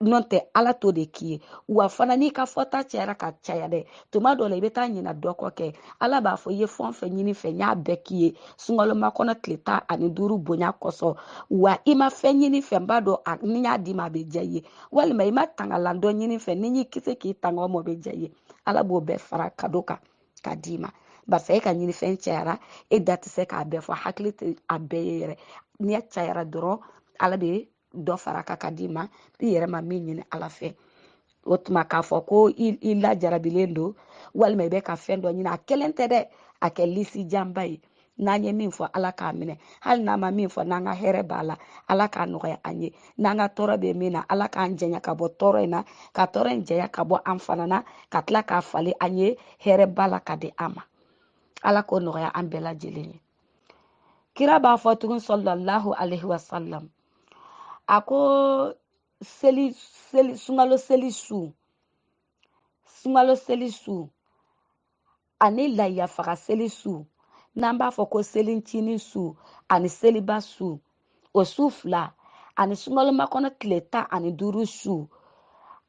Speaker 1: n'o tɛ ala t'o de k'i ye wa fana n'i ka fɔta cayara ka caya dɛ tuma dɔ la i bɛ taa ɲina dɔ kɔ kɛ ala b'a fɔ i ye fɛn o fɛn ɲini n fɛ n y'a bɛɛ k'i ye sunkalo makɔnɔ tile tan ani duuru bonya kosɔn wa i ma fɛn ɲini n fɛ n b'a dɔn ni n y'a d'i ma a bɛ diya i ye walima i ma tangalan dɔ ɲini n fɛ ni n y'i kisi k'i tanga o ma o bɛ diya i ye ala b'o bɛɛ fara ka d'o kan ka d'i ma barisa e ka ɲinifɛn cayara e da tɛ se k'a bɛɛ fɔ hakili tɛ a bɛɛ ye yɛrɛ ni a cayara dɔrɔn ala bɛ dɔ fara a kan ka d'i ma i yɛrɛ ma min ɲini ala fɛ o tuma k'a fɔ ko i lajarabilen don walima i bɛ ka fɛn dɔ ɲini a kelen tɛ dɛ a kɛ lisi janba ye n'an ye min fɔ ala k'a minɛ hali n'an ma min fɔ n'an ka hɛrɛ b'a la ala k'a nɔgɔya an ye n'an ka tɔɔrɔ bɛ min na ala k'an janya ka bɔ tɔɔrɔ in na ka tɔɔrɔ in janya ka bɔ an fana na ka tila k'a falen an ye hɛrɛba la k'a di an ma ala k'o nɔgɔya an bɛɛ lajɛlen ye kira b'a fɔ tugun sɔlɔlahu alaihi wasalam a ko seli seli sunkalo seli su sunkalo seli su ani layiya faga seli su n'an b'a fɔ ko selincinin su ani seliba su o su fila ani sunkalo makɔnɔ tile tan ani duuru su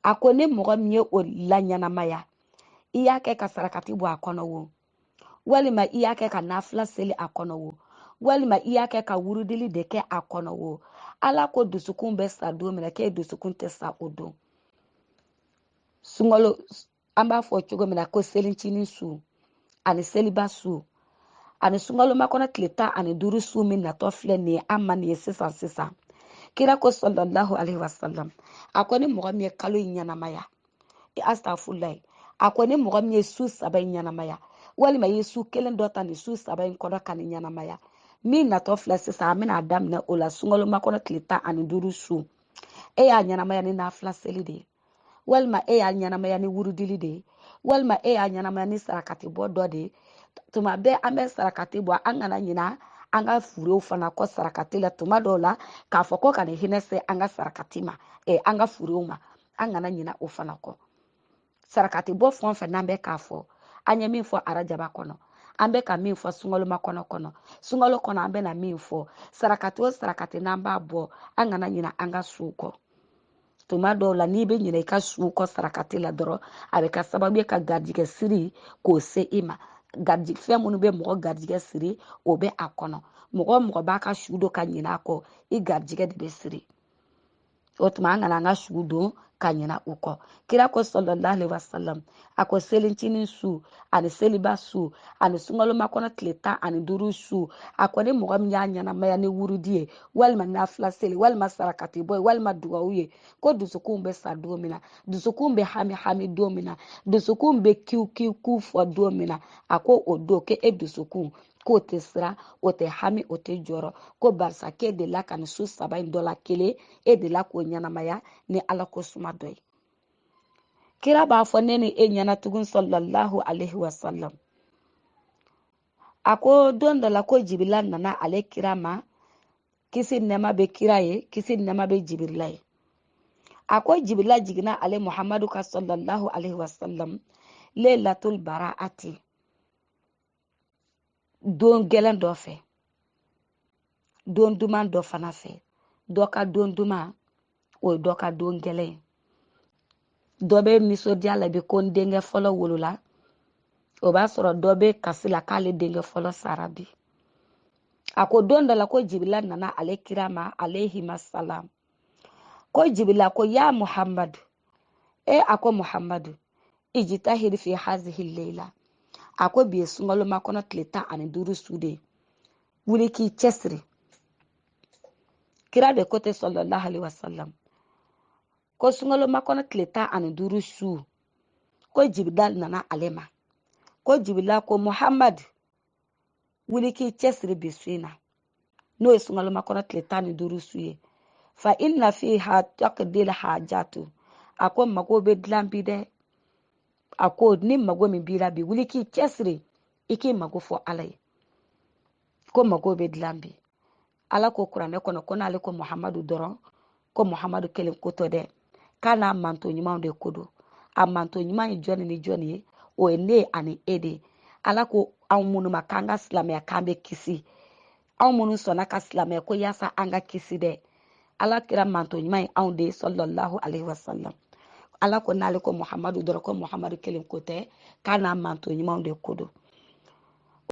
Speaker 1: a ko ni mɔgɔ min ye o laɲɛnamaya i y'a kɛ ka sarakati bɔ a kɔnɔ wo walima i y'a kɛ ka nafila seli a kɔnɔ wo walima i y'a kɛ ka wurudili de kɛ a kɔnɔ wo ala ko dusukun bɛ sa don min na k'e dusukun tɛ sa o don sunkalo an b'a fɔ cogo min na ko selincinin su ani seliba su ani sunkalo makɔnɔ tile tan ani duuru su min natɔ filɛ nin ye an ma nin ye sisan sisan kira ko sɔlɔlahu alaihi wasalam a ko ni mɔgɔ min ye kalo in ɲɛnamaya i astafurulayi a ko ni mɔgɔ min ye su saba in ɲɛnamaya walima i ye su kelen dɔ ta nin su saba in kɔnɔ ka nin ɲɛnamaya min natɔ filɛ sisan an bɛna daminɛ o la sunkalo makɔnɔ tile tan ani duuru su e y'a ɲɛnamaya ni nafila seli de ye walima e y'a ɲɛnamaya ni wurudili de ye walima e y'a ɲɛnamaya ni sarakati bɔ dɔ de ye tuma bɛɛ an bɛ sarakati bɔ an kana ɲina an ka furew fana kɔ sarakati la tuma dɔw la k'a fɔ ko ka nin hinɛ se an ka sarakati ma eh, an ka furew ma an kana ɲina o fana kɔ sarakati bɔ fɛn o fɛn n'an bɛ k'a fɔ an ye min fɔ arajaba kɔnɔ an bɛ ka min fɔ sunkalo makɔnɔ kɔnɔ sunkalo kɔnɔ an bɛna min fɔ sarakati o sarakati n'an b'a bɔ an kana ɲina an ka suw kɔ tuma dɔw la n'i bɛ ɲina i ka su kɔ sarakati la dɔrɔn a bɛ kɛ sababu ye ka garijigɛ siri k'o se i ma fɛn minnu bɛ mɔgɔ garijigɛ siri o bɛ a kɔnɔ mɔgɔ o mɔgɔ b'a ka su don ka ɲina a kɔ i garijigɛ de bɛ siri o tuma an kana an ka su don ka ɲina u kɔ kira ko sɔlɔlahu alaihi wasalam a ko selicinin su ani seliba su ani sunkalo makɔnɔ tile tan ani duuru su a ko ni mɔgɔ min y'a ɲɛnamaya ni wurudi ye walima nafila seli walima sarakati bɔ ye walima dugawu ye ko dusukunw bɛ sa don min na dusukunw bɛ hami hami don min na dusukunw bɛ kiw kiw kiw fɔ don min na a ko o don k'e e dusukun k'o tɛ siran o tɛ hami o tɛ jɔrɔ ko barisa k'e delila ka nin su saba in dɔ la kelen e delila k'o ɲɛnamaya ni ala ko suma dɔ ye kira b'a fɔ ne ni e ɲɛna tugun sallallahu alaihi wasallam a ko don dɔ la ko jibirila nana ale kira ma kisi ni nɛɛma bɛ kira ye kisi ni nɛɛma bɛ jibirila ye a ko jibirila jiginna ale muhamadu kan sallallahu alaihi wasallam leilatul bara'ati don gɛlɛn dɔ fɛ don duman dɔ fana fɛ dɔ ka don duman o ye dɔ ka don gɛlɛn ye dɔ bɛ nisɔndiya la bi ko n denkɛ fɔlɔ wolola o b'a sɔrɔ dɔ bɛ kasi la k'ale denkɛ fɔlɔ sara bi a ko don dɔ la ko jibila nana ale kira ma alaihima salam ko jibila ko ya muhammadu e a ko muhammadu ijitahid fi hazihi leila a ko bi ye sunkalo makɔnɔ tile tan ani duuru su de ye wuli k'i cɛsiri kira de ko ten sallallahu alaihi wasallam ko sunkalo makɔnɔ tile tan ani duuru su ko jibila nana ale ma ko jibila ko muhammadu wuli k'i cɛsiri bi su in na n'o ye sunkalo makɔnɔ tile tan ni duuru su ye fa inna fiha tuqdal hajatu a ko mago bɛ dilan bi dɛ a ko ni mago min b'i la bi wuli k'i cɛsiri i k'i mago fɔ ala ye ko mago bɛ dilan bi ala ko kuranɛ kɔnɔ ko n'ale ko muhamadu dɔrɔn ko muhamadu kelen ko tɛ dɛ k'a n'a mantɔn ɲumanw de ko don a mantɔn ɲuman ye jɔni ni jɔni ye o ye ne ani e de ala ko anw minnu ma k'an ka silamɛya k'an bɛ kisi anw minnu sɔnna ka silamɛya ko yaasa an ka kisi dɛ ala kira mantɔn ɲuman ye anw de ye sallallahu alayhi wa sallam ala ko n'ale ko muhamadu dɔrɔn ko muhamadu kelen ko tɛ k'a n'a mantɔn ɲumanw de ko don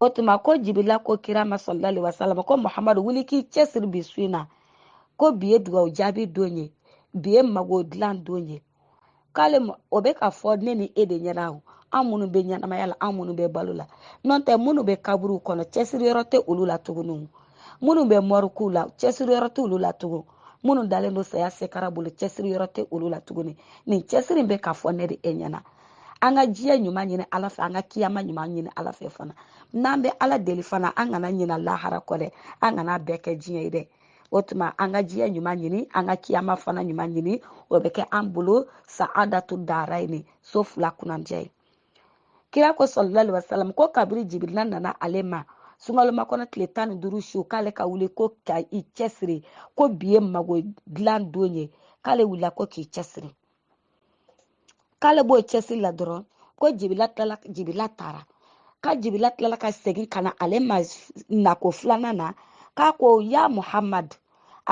Speaker 1: o tuma ko jibila ko kira ma sallallahu alaihi wasallam ko muhamadu wuli k'i cɛsiri bi su in na ko bi ye dugawu jaabi don ye bi ye mago dilan don ye k'ale o bɛ ka fɔ ne ni e de ɲɛna o an minnu bɛ ɲɛnamaya la an minnu bɛ balo la n'o tɛ minnu bɛ kaburuw kɔnɔ cɛsiri yɔrɔ tɛ olu la tuguni minnu bɛ mɔrikuw la cɛsiri yɔrɔ tɛ olu la tugun minnu dalen don saya sekara bolo cɛsiri yɔrɔ tɛ olu la tuguni nin cɛsiri bɛ ka fɔ ne ni e ɲɛna an ka diɲɛ ɲuman ɲini ala fɛ an ka kiyama ɲuman ɲini ala fɛ fana n'an bɛ ala deli fana an kana ɲina lahara kɔ dɛ an kana bɛɛ kɛ diɲɛ ye dɛ o tuma an ka diɲɛ ɲuman ɲini an ka kiyama fana ɲuman ɲini o bɛ kɛ an bolo saadatu darayeni so fila kunnandiya ye kira ko sallallahu alaihi wasallam ko kabiri jibirila nana ale ma sunkalomakɔnɔ tile tan ni duuru su k'ale ka wuli ko ka i cɛsiri ko bi ye mago dilan don ye k'ale wulila ko k'i cɛsiri k'ale b'o cɛsiri la dɔrɔn ko jibila taara ka jibila tilala ka segin ka na ale ma nako filanan na k'a ko ya muhamadu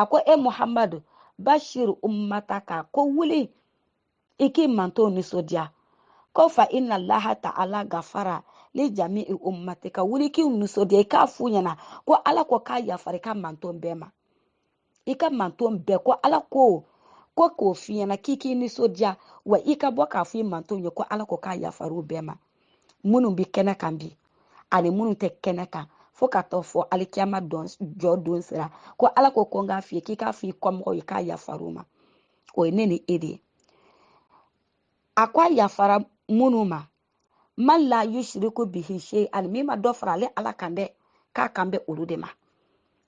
Speaker 1: a ko e muhamadu bashir ummataka ko wuli i k'i manton nisɔndiya ko fa innallaha ta'ala gafara li jami'i ummatika wuli k'i nisɔndiya i k'a f'u ɲɛna ko ala ko k'a yafara i ka manton bɛɛ ma i ka manton bɛɛ ko ala ko ko k'o f'i ɲɛna k'i k'i nisɔndiya wa i ka bɔ k'a fɔ i manton ye ko ala ko k'a yafara u bɛɛ ma minnu bɛ kɛnɛ kan bi ani minnu tɛ kɛnɛ kan fo ka taa fo alikiyama jɔ don sera ko ala ko ko n k'a f'i ye k'i k'a fɔ i kɔmɔgɔw ye k'a yafara u ma o ye ne ni e de ye a ko a yafara minnu ma man la yushriku bihi shay'an min ma dɔ fara ale ala kan dɛ k'a kan bɛ olu de ma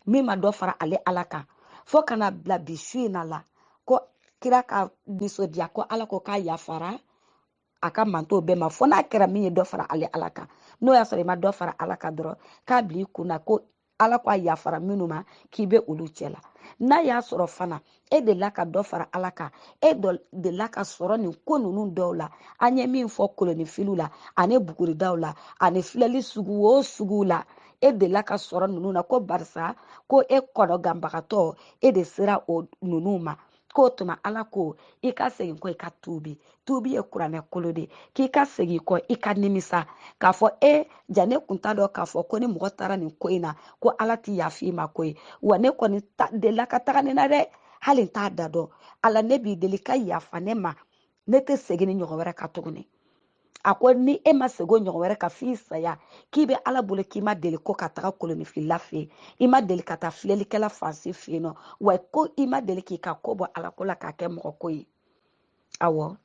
Speaker 1: min ma dɔ fara ale ala kan fo ka na bila bi su in na la ko kira ka nisɔndiya ko ala ko k'a yafara a ka manton bɛɛ ma fo n'a kɛra min ye dɔ fara ale ala kan n'o y'a sɔrɔ i ma dɔ fara ala kan dɔrɔn k'a bila i kun na ko ala ko a yafara minnu ma k'i bɛ olu cɛ la n'a y'a sɔrɔ fana e delila ka dɔ fara ala kan e delila ka sɔrɔ nin ko ninnu dɔw la an ye min fɔ kolonifiliw la ani buguridaw la ani filɛli sugu o suguw la e delila ka sɔrɔ ninnu na ko barisa ko e kɔnɔganbagatɔ e de sera o ninnu ma k'o tuma ala ko i ka segin kɔ i ka tuubi tuubi ye kuranɛ kolo de k'i ka segin kɔ i ka nimisa k'a fɔ e ja ne kun t'a dɔn k'a fɔ ko ni mɔgɔ taara nin ko in na ko ala ti yafa i ma ko ye wa ne kɔni delila ka taga nin na dɛ hali n t'a da dɔn ala ne b'i deli ka yafa ne ma ne tɛ segin nin ɲɔgɔn wɛrɛ kan tuguni a ko ni e ma segin o ɲɔgɔn wɛrɛ kan f'i saya k'i bɛ ala bolo k'i ma deli ko ka taga kolonifilila fɛ yen i ma deli ka taa filɛlikɛla fan si fɛ yen nɔ wa ko i ma deli k'i ka ko bɔ ala ko la k'a kɛ mɔgɔ ko ye awɔ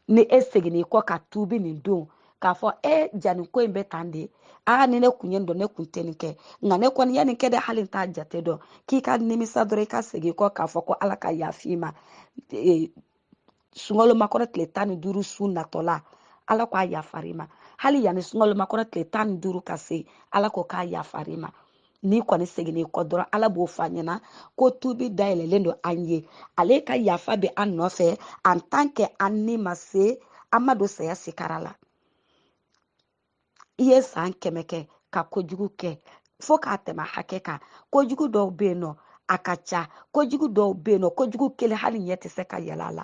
Speaker 1: ni e seginna i kɔ ka tuubi nin don k'a fɔ e ja nin ko in bɛ tan de aa ni ne kun y'a dɔn ne kun tɛ nin kɛ nka ne kɔni ya nin kɛ dɛ hali n t'a jate dɔn k'i ka nimisa dɔrɔn i ka segin kɔ k'a fɔ ko ala ka yafa i ma sunkalomakɔnɔ tile tan ni duuru su natɔ la ala ko a yafara i ma hali yanni sunkalomakɔnɔ tile tan ni duuru ka se ala ko k'a yafara i ma n'i kɔni seginna i kɔ dɔrɔn ala b'o fɔ a ɲɛna ko tubi dayɛlɛlen don an ye ale ka yafa bɛ an nɔfɛ en tant que an ni ma se an ma don saya sikara la i ye san kɛmɛ kɛ ka kojugu kɛ fo k'a tɛmɛ hakɛ kan kojugu dɔw bɛ yen nɔ a ka ca kojugu dɔw bɛ yen nɔ kojugu kelen hali ɲɛ tɛ se ka yɛlɛ a la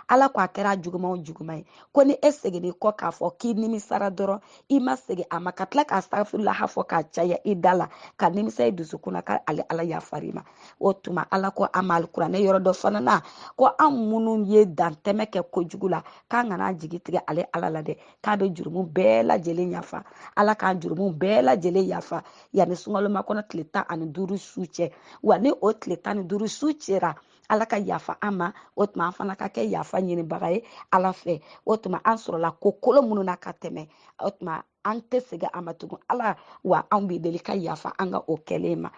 Speaker 1: ala ko a kɛra juguman o juguman ye ko ni e seginna i kɔ k'a fɔ k'i nimisara dɔrɔn i ma segin a ma ka tila ka astagfirulaha fɔ k'a caya i da la ka nimisa i dusukun na k'ale ala yafar'i ma o tuma ala ko an ma alikuranɛ yɔrɔ dɔ fana na ko an minnu ye dantɛmɛ kɛ kojugu la k'an kana jigi tigɛ ale ala la dɛ k'a bɛ jurumu bɛɛ lajɛlen yafa ala k'an jurumu bɛɛ lajɛlen yafa yanni sunkalomakɔnɔ tile tan ani duuru su cɛ wa ni o tile tan ni duuru su sera ala ka yafa an ma o tuma an fana ka kɛ yafa ɲinibaga ye ala fɛ o tuma an sɔrɔla ko kolon minnu na ka tɛmɛ o tuma an tɛ segin a ma tugun ala wa an b'i deli ka yafa an ka o kɛlen ma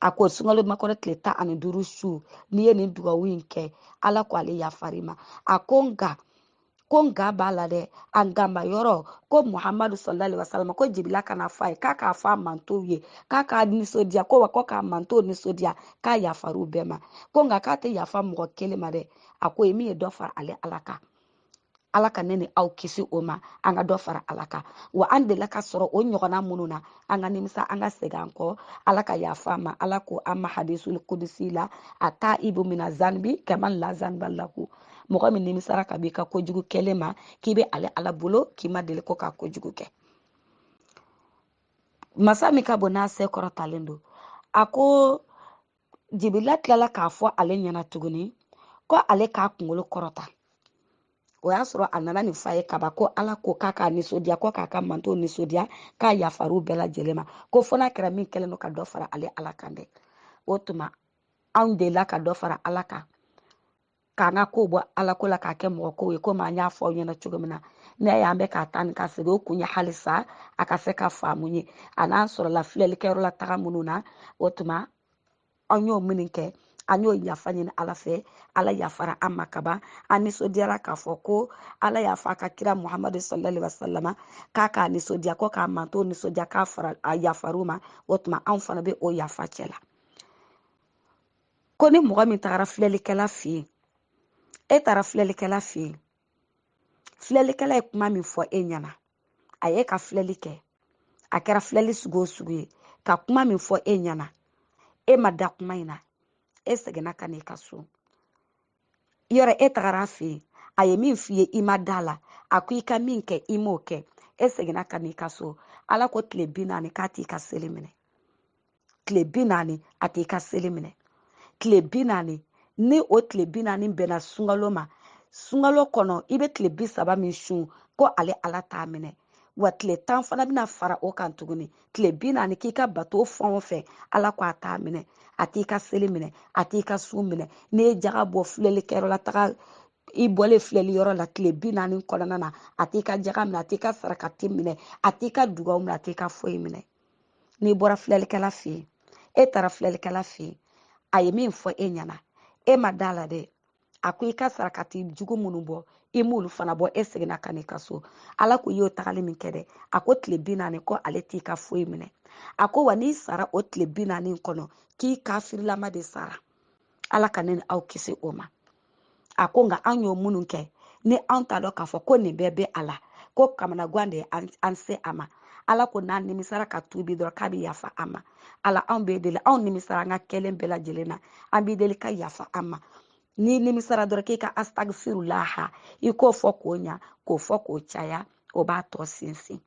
Speaker 1: a ko sunkalomakɔnɔ tile tan ani duuru su n'i ye nin dugawu in kɛ ala ko ale yafar'i ma a ko nka ko nka b'a la dɛ a nkanba yɔrɔ ko muhamadu sallallahu alaihi wasallama ko jibila ka n'a fɔ a ye k'a k'a fɔ a mantɔnw ye k'a k'a nisɔndiya ko wa ko k'a mantɔnw nisɔndiya k'a yafar'u bɛɛ ma ko nka k'a tɛ yafa mɔgɔ kelen ma dɛ a ko ye min ye dɔ fara ale ala kan ala ka ne ni aw kisi o ma an ka dɔ fara ala kan wa an delila ka sɔrɔ o ɲɔgɔnna minnu na an ka nimisa an ka segin an kɔ ala ka yafa an ma ala ko an ma hadisul kudusi la ataibu mina zanbi kaman la zanba lahu mɔgɔ min nimisara ka b'i ka kojugu kɛlen ma k'i bɛ ale ala bolo k'i ma deli ko ka kojugu kɛ masa min ka bon n'a se kɔrɔtalen don a ko jibila tilala k'a fɔ ale ɲɛna tuguni ko ale k'a kunkolo kɔrɔta o y'a sɔrɔ a nana nin f'a ye kaban ko ala ko k'a k'a nisɔndiya ko k'a ka mantɔn nisɔndiya k'a yafar'u bɛɛ lajɛlen ma ko fo n'a kɛra min kɛlen don ka dɔ fara ale ala kan dɛ o tuma anw delila ka dɔ fara ala kan k'an ka kow bɔ ala ko la k'a kɛ mɔgɔ kow ye komi an y'a fɔ aw ɲɛna cogo min na n'i y'an bɛ ka taa ni ka segin o kun ye halisa a ka se ka faamu ye a n'an sɔrɔla filɛlikɛyɔrɔ la taga minnu na o tuma an y'o minnu kɛ an y'o yafa ɲini ala fɛ ala yafara an ma kaban an nisɔndiyara k'a fɔ ko ala y'a fɔ a ka kira muhamadu sallallahu alaihi wasallama k'a k'a nisɔndiya ko k'a mantɔn nisɔndiya k'a fara a yafar'u ma o tuma anw fana bɛ o yafa cɛ la ko ni mɔgɔ min tagara filɛlikɛla fɛ yen e taara filɛlikɛla fɛ yen filɛlikɛla ye kuma min fɔ e ɲɛna a ye ka filɛli kɛ a kɛra filɛli sugu o sugu ye ka kuma min fɔ e ɲɛna e ma da kuma in na e seginna ka n'i ka so yɔrɔ e tagara a fɛ yen a ye min f'i ye i ma da la a ko i ka min kɛ i m'o kɛ e seginna ka n'i ka so ala ko tile bi naani k'a t'i ka seli minɛ tile bi naani a t'i ka seli minɛ tile bi naani ni o tile bi naani bɛnna sunkalo ma sunkalo kɔnɔ i bɛ tile bi saba min sun ko ale ala t'a minɛ wa tile tan fana bɛna fara o kan tuguni tile bi naani k'i ka bato fɛn o fɛn ala ko a t'a minɛ a t'i ka seli minɛ a t'i ka sun minɛ n'i ye jaga bɔ filɛlikɛyɔrɔ la taga i bɔlen filɛliyɔrɔ la tile bi naani kɔnɔna na a t'i ka jaga minɛ a t'i ka sarakati minɛ a t'i ka dugaw minɛ a t'i ka foyi minɛ n'i bɔra filɛlikɛla fɛ yen e taara filɛlikɛla fɛ yen a ye min fɔ e ɲɛna e ma da la dɛ a ko i ka sarakati jugu minnu bɔ i m'olu fana bɔ e seginna ka n'i ka so ala ko i y'o tagali min kɛ dɛ a ko tile bi naani ko ale t'i ka foyi minɛ a ko wa n'i sara o tile bi naani kɔnɔ k'i kafirilama de sara ala ka ne ni aw kisi o ma a ko nka an y'o minnu kɛ ni anw t'a dɔn k'a fɔ ko nin bɛɛ bɛ a la ko kamanagwan de ye an se a ma ala ko n'an nimisara ka tuubi dɔrɔn k'a bɛ yafa an ma ala anw b'i deli anw nimisara an ka kɛlen bɛɛ lajɛlen na an b'i deli ka yafa an ma n'i nimisara dɔrɔn k'i ka astagifirulaha i k'o fɔ k'o ɲa k'o fɔ k'o caya o b'a tɔ sinsin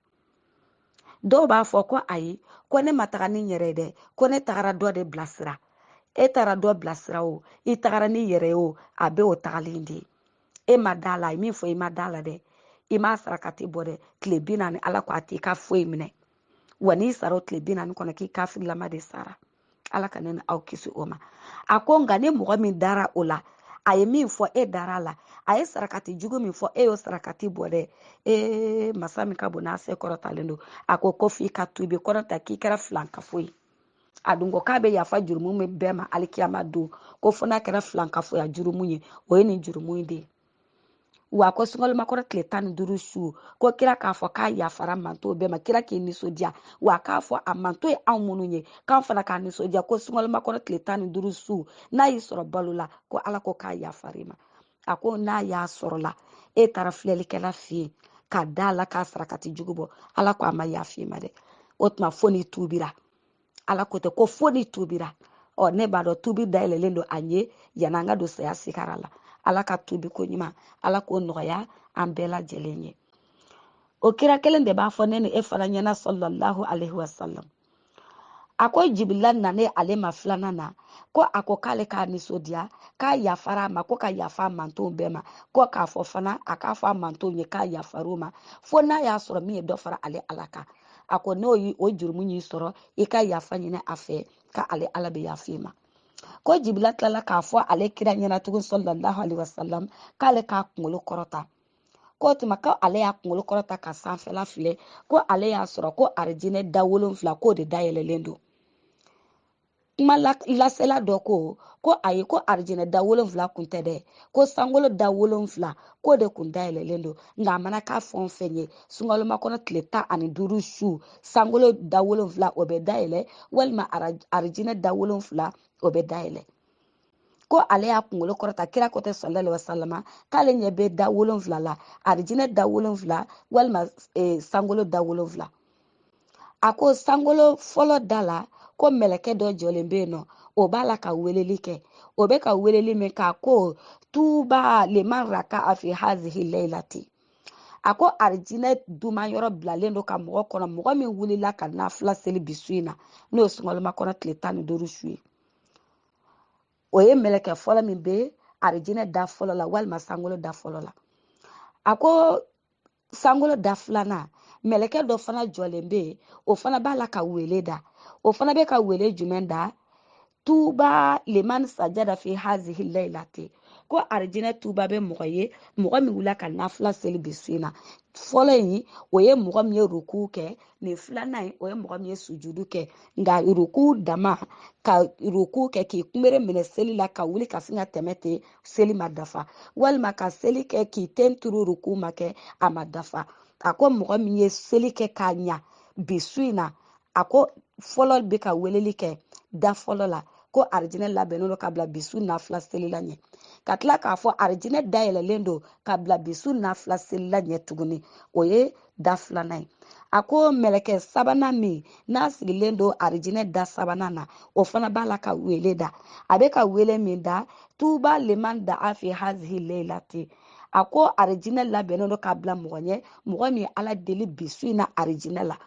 Speaker 1: dɔw b'a fɔ ko ayi ko ne ma taga ni n yɛrɛ ye dɛ ko ne tagara dɔ de bilasira e taara dɔ bilasira o i tagara n'i yɛrɛ o a bɛɛ o tagali in de ye e ma da la min fɔ i ma da la dɛ i m'a sarakati bɔ dɛ tile bi naani ala ko a t'i ka foyi minɛ wa n'i sara o tile bi naani kɔnɔ k'i kafirilama de sara ala ka ne ni aw kisi o ma a ko nka ni mɔgɔ min dara o la a ye min fɔ e dara la a ye sarakati jugu min fɔ e y'o sarakati bɔ dɛ ee masa min ka bon n'a se kɔrɔtalen don a ko ko f'i ka tuubi kɔrɔta k'i kɛra filankafo ye a dun ko k'a bɛ yafa jurumu bɛɛ ma alikiyama don ko fo n'a kɛra filankafoya jurumu ye o ye nin jurumu in de ye wa ko sunkalomakɔnɔ tile tan ni duuru su ko kira k'a fɔ k'a yafara mantɔn bɛɛ ma kira k'i nisɔndiya wa k'a fɔ a mantɔn ye anw minnu ye k'an fana k'an nisɔndiya ko sunkalomakɔnɔ tile tan ni duuru su n'a y'i sɔrɔ balo la ko ala ko k'a yafar'i ma a ko n'a y'a sɔrɔla e taara filɛlikɛla fɛ yen ka da la k'a sarakati jugu bɔ ala ko a ma yaf'i ma dɛ o tuma fo n'i tuubira ala ko tɛ ko fo n'i tubira ɔ ne b'a dɔn tubi dayɛlɛlen don an ye yanni an ka don saya sigara la ala ka tubi ko ɲuman ala k'o nɔgɔya an bɛɛ lajɛlen ye o kira kelen de b'a fɔ ne ni e fana ɲɛna sallallahu alaihi wasalam a ko jibila nane ale ma filanan na ko a ko k'ale k'a nisɔndiya k'a yafara a ma ko ka yafa a mantonw bɛɛ ma ko k'a fɔ fana a k'a fɔ a mantonw ye k'a yafar'u ma fo n'a y'a sɔrɔ min ye dɔ fara ale ala kan a ko n'o ye o jurumu y'i sɔrɔ i ka yafa ɲini a fɛ ka ale ala bɛ yafa i ma ko jibila tilala k'a fɔ ale kira ɲɛna tugun sallallahu alaihi wasallam k'ale k'a kunkolo kɔrɔta k'o tuma ko ale y'a kunkolo kɔrɔta ka sanfɛla filɛ ko ale y'a sɔrɔ ko arijinɛ da wolonfila k'o de dayɛlɛlen don kuma lasela dɔ ko ko ayi ko arijinɛ da wolonfila kun tɛ dɛ ko sankolo da wolonfila k'o de kun dayɛlɛlen don nka a mana kɛ fɛn o fɛn ye sunkalomakɔnɔ tile tan ani duuru su sankolo da wolonfila o bɛ dayɛlɛ walima arijinɛ da wolonfila o bɛ dayɛlɛ ko ale y'a kunkolo kɔrɔta kira ko tɛ sallallahu alaihi wasallam k'ale ɲɛ bɛ da wolonfila la arijinɛ da wolonfila walima e, sankolo da wolonfila a ko sankolo fɔlɔ da la ko mɛlɛkɛ dɔ jɔlen bɛ yen nɔ o b'a la ka weleli kɛ o bɛ ka weleli min k'a ko tuba liman rakaa fi hazihi layilati a ko arijinɛ duman yɔrɔ bilalen don ka mɔgɔ kɔnɔ mɔgɔ min wulila ka nafila seli bi su in na n'o ye sunkalomakɔnɔ tile tan ni duuru su ye o ye mɛlɛkɛ fɔlɔ min bɛ arijinɛ da fɔlɔ la walima sankolo da fɔlɔ la a ko sankolo da filanan mɛlɛkɛ dɔ fana jɔlen bɛ yen o fana b'a la ka wele da o fana bɛ ka wele jumɛn da tuba liman sajada fi hazihi layilati ko arijinɛ tuba bɛ mɔgɔ ye mɔgɔ min wulila ka nafila seli bi su in na fɔlɔ in o ye mɔgɔ min ye ruku kɛ nin filanan in o ye mɔgɔ min ye sujudu kɛ nka ruku dama ka ruku kɛ k'i kunbere minɛ seli la ka wuli ka sin ka tɛmɛ ten seli ma dafa walima ka seli kɛ k'i ten turu ruku ma kɛ a ma dafa a ko mɔgɔ min ye seli kɛ k'a ɲa bi su in na a ko fɔlɔ bɛ ka weleli kɛ da fɔlɔ la ko arijinɛ labɛnnen don ka bila bi su nafila selila ɲɛ ka tila k'a fɔ arijinɛ dayɛlɛlen don ka bila bi su nafila selila ɲɛ tuguni o ye da filanan ye a ko mɛlɛkɛ sabanan min n'a sigilen don arijinɛ da sabanan na o fana b'a la ka wele da a bɛ ka wele min da tuba liman daa fi hazihi layilati a ko arijinɛ labɛnnen don k'a bila mɔgɔ ɲɛ mɔgɔ min ala deli bi su in na arijinɛ la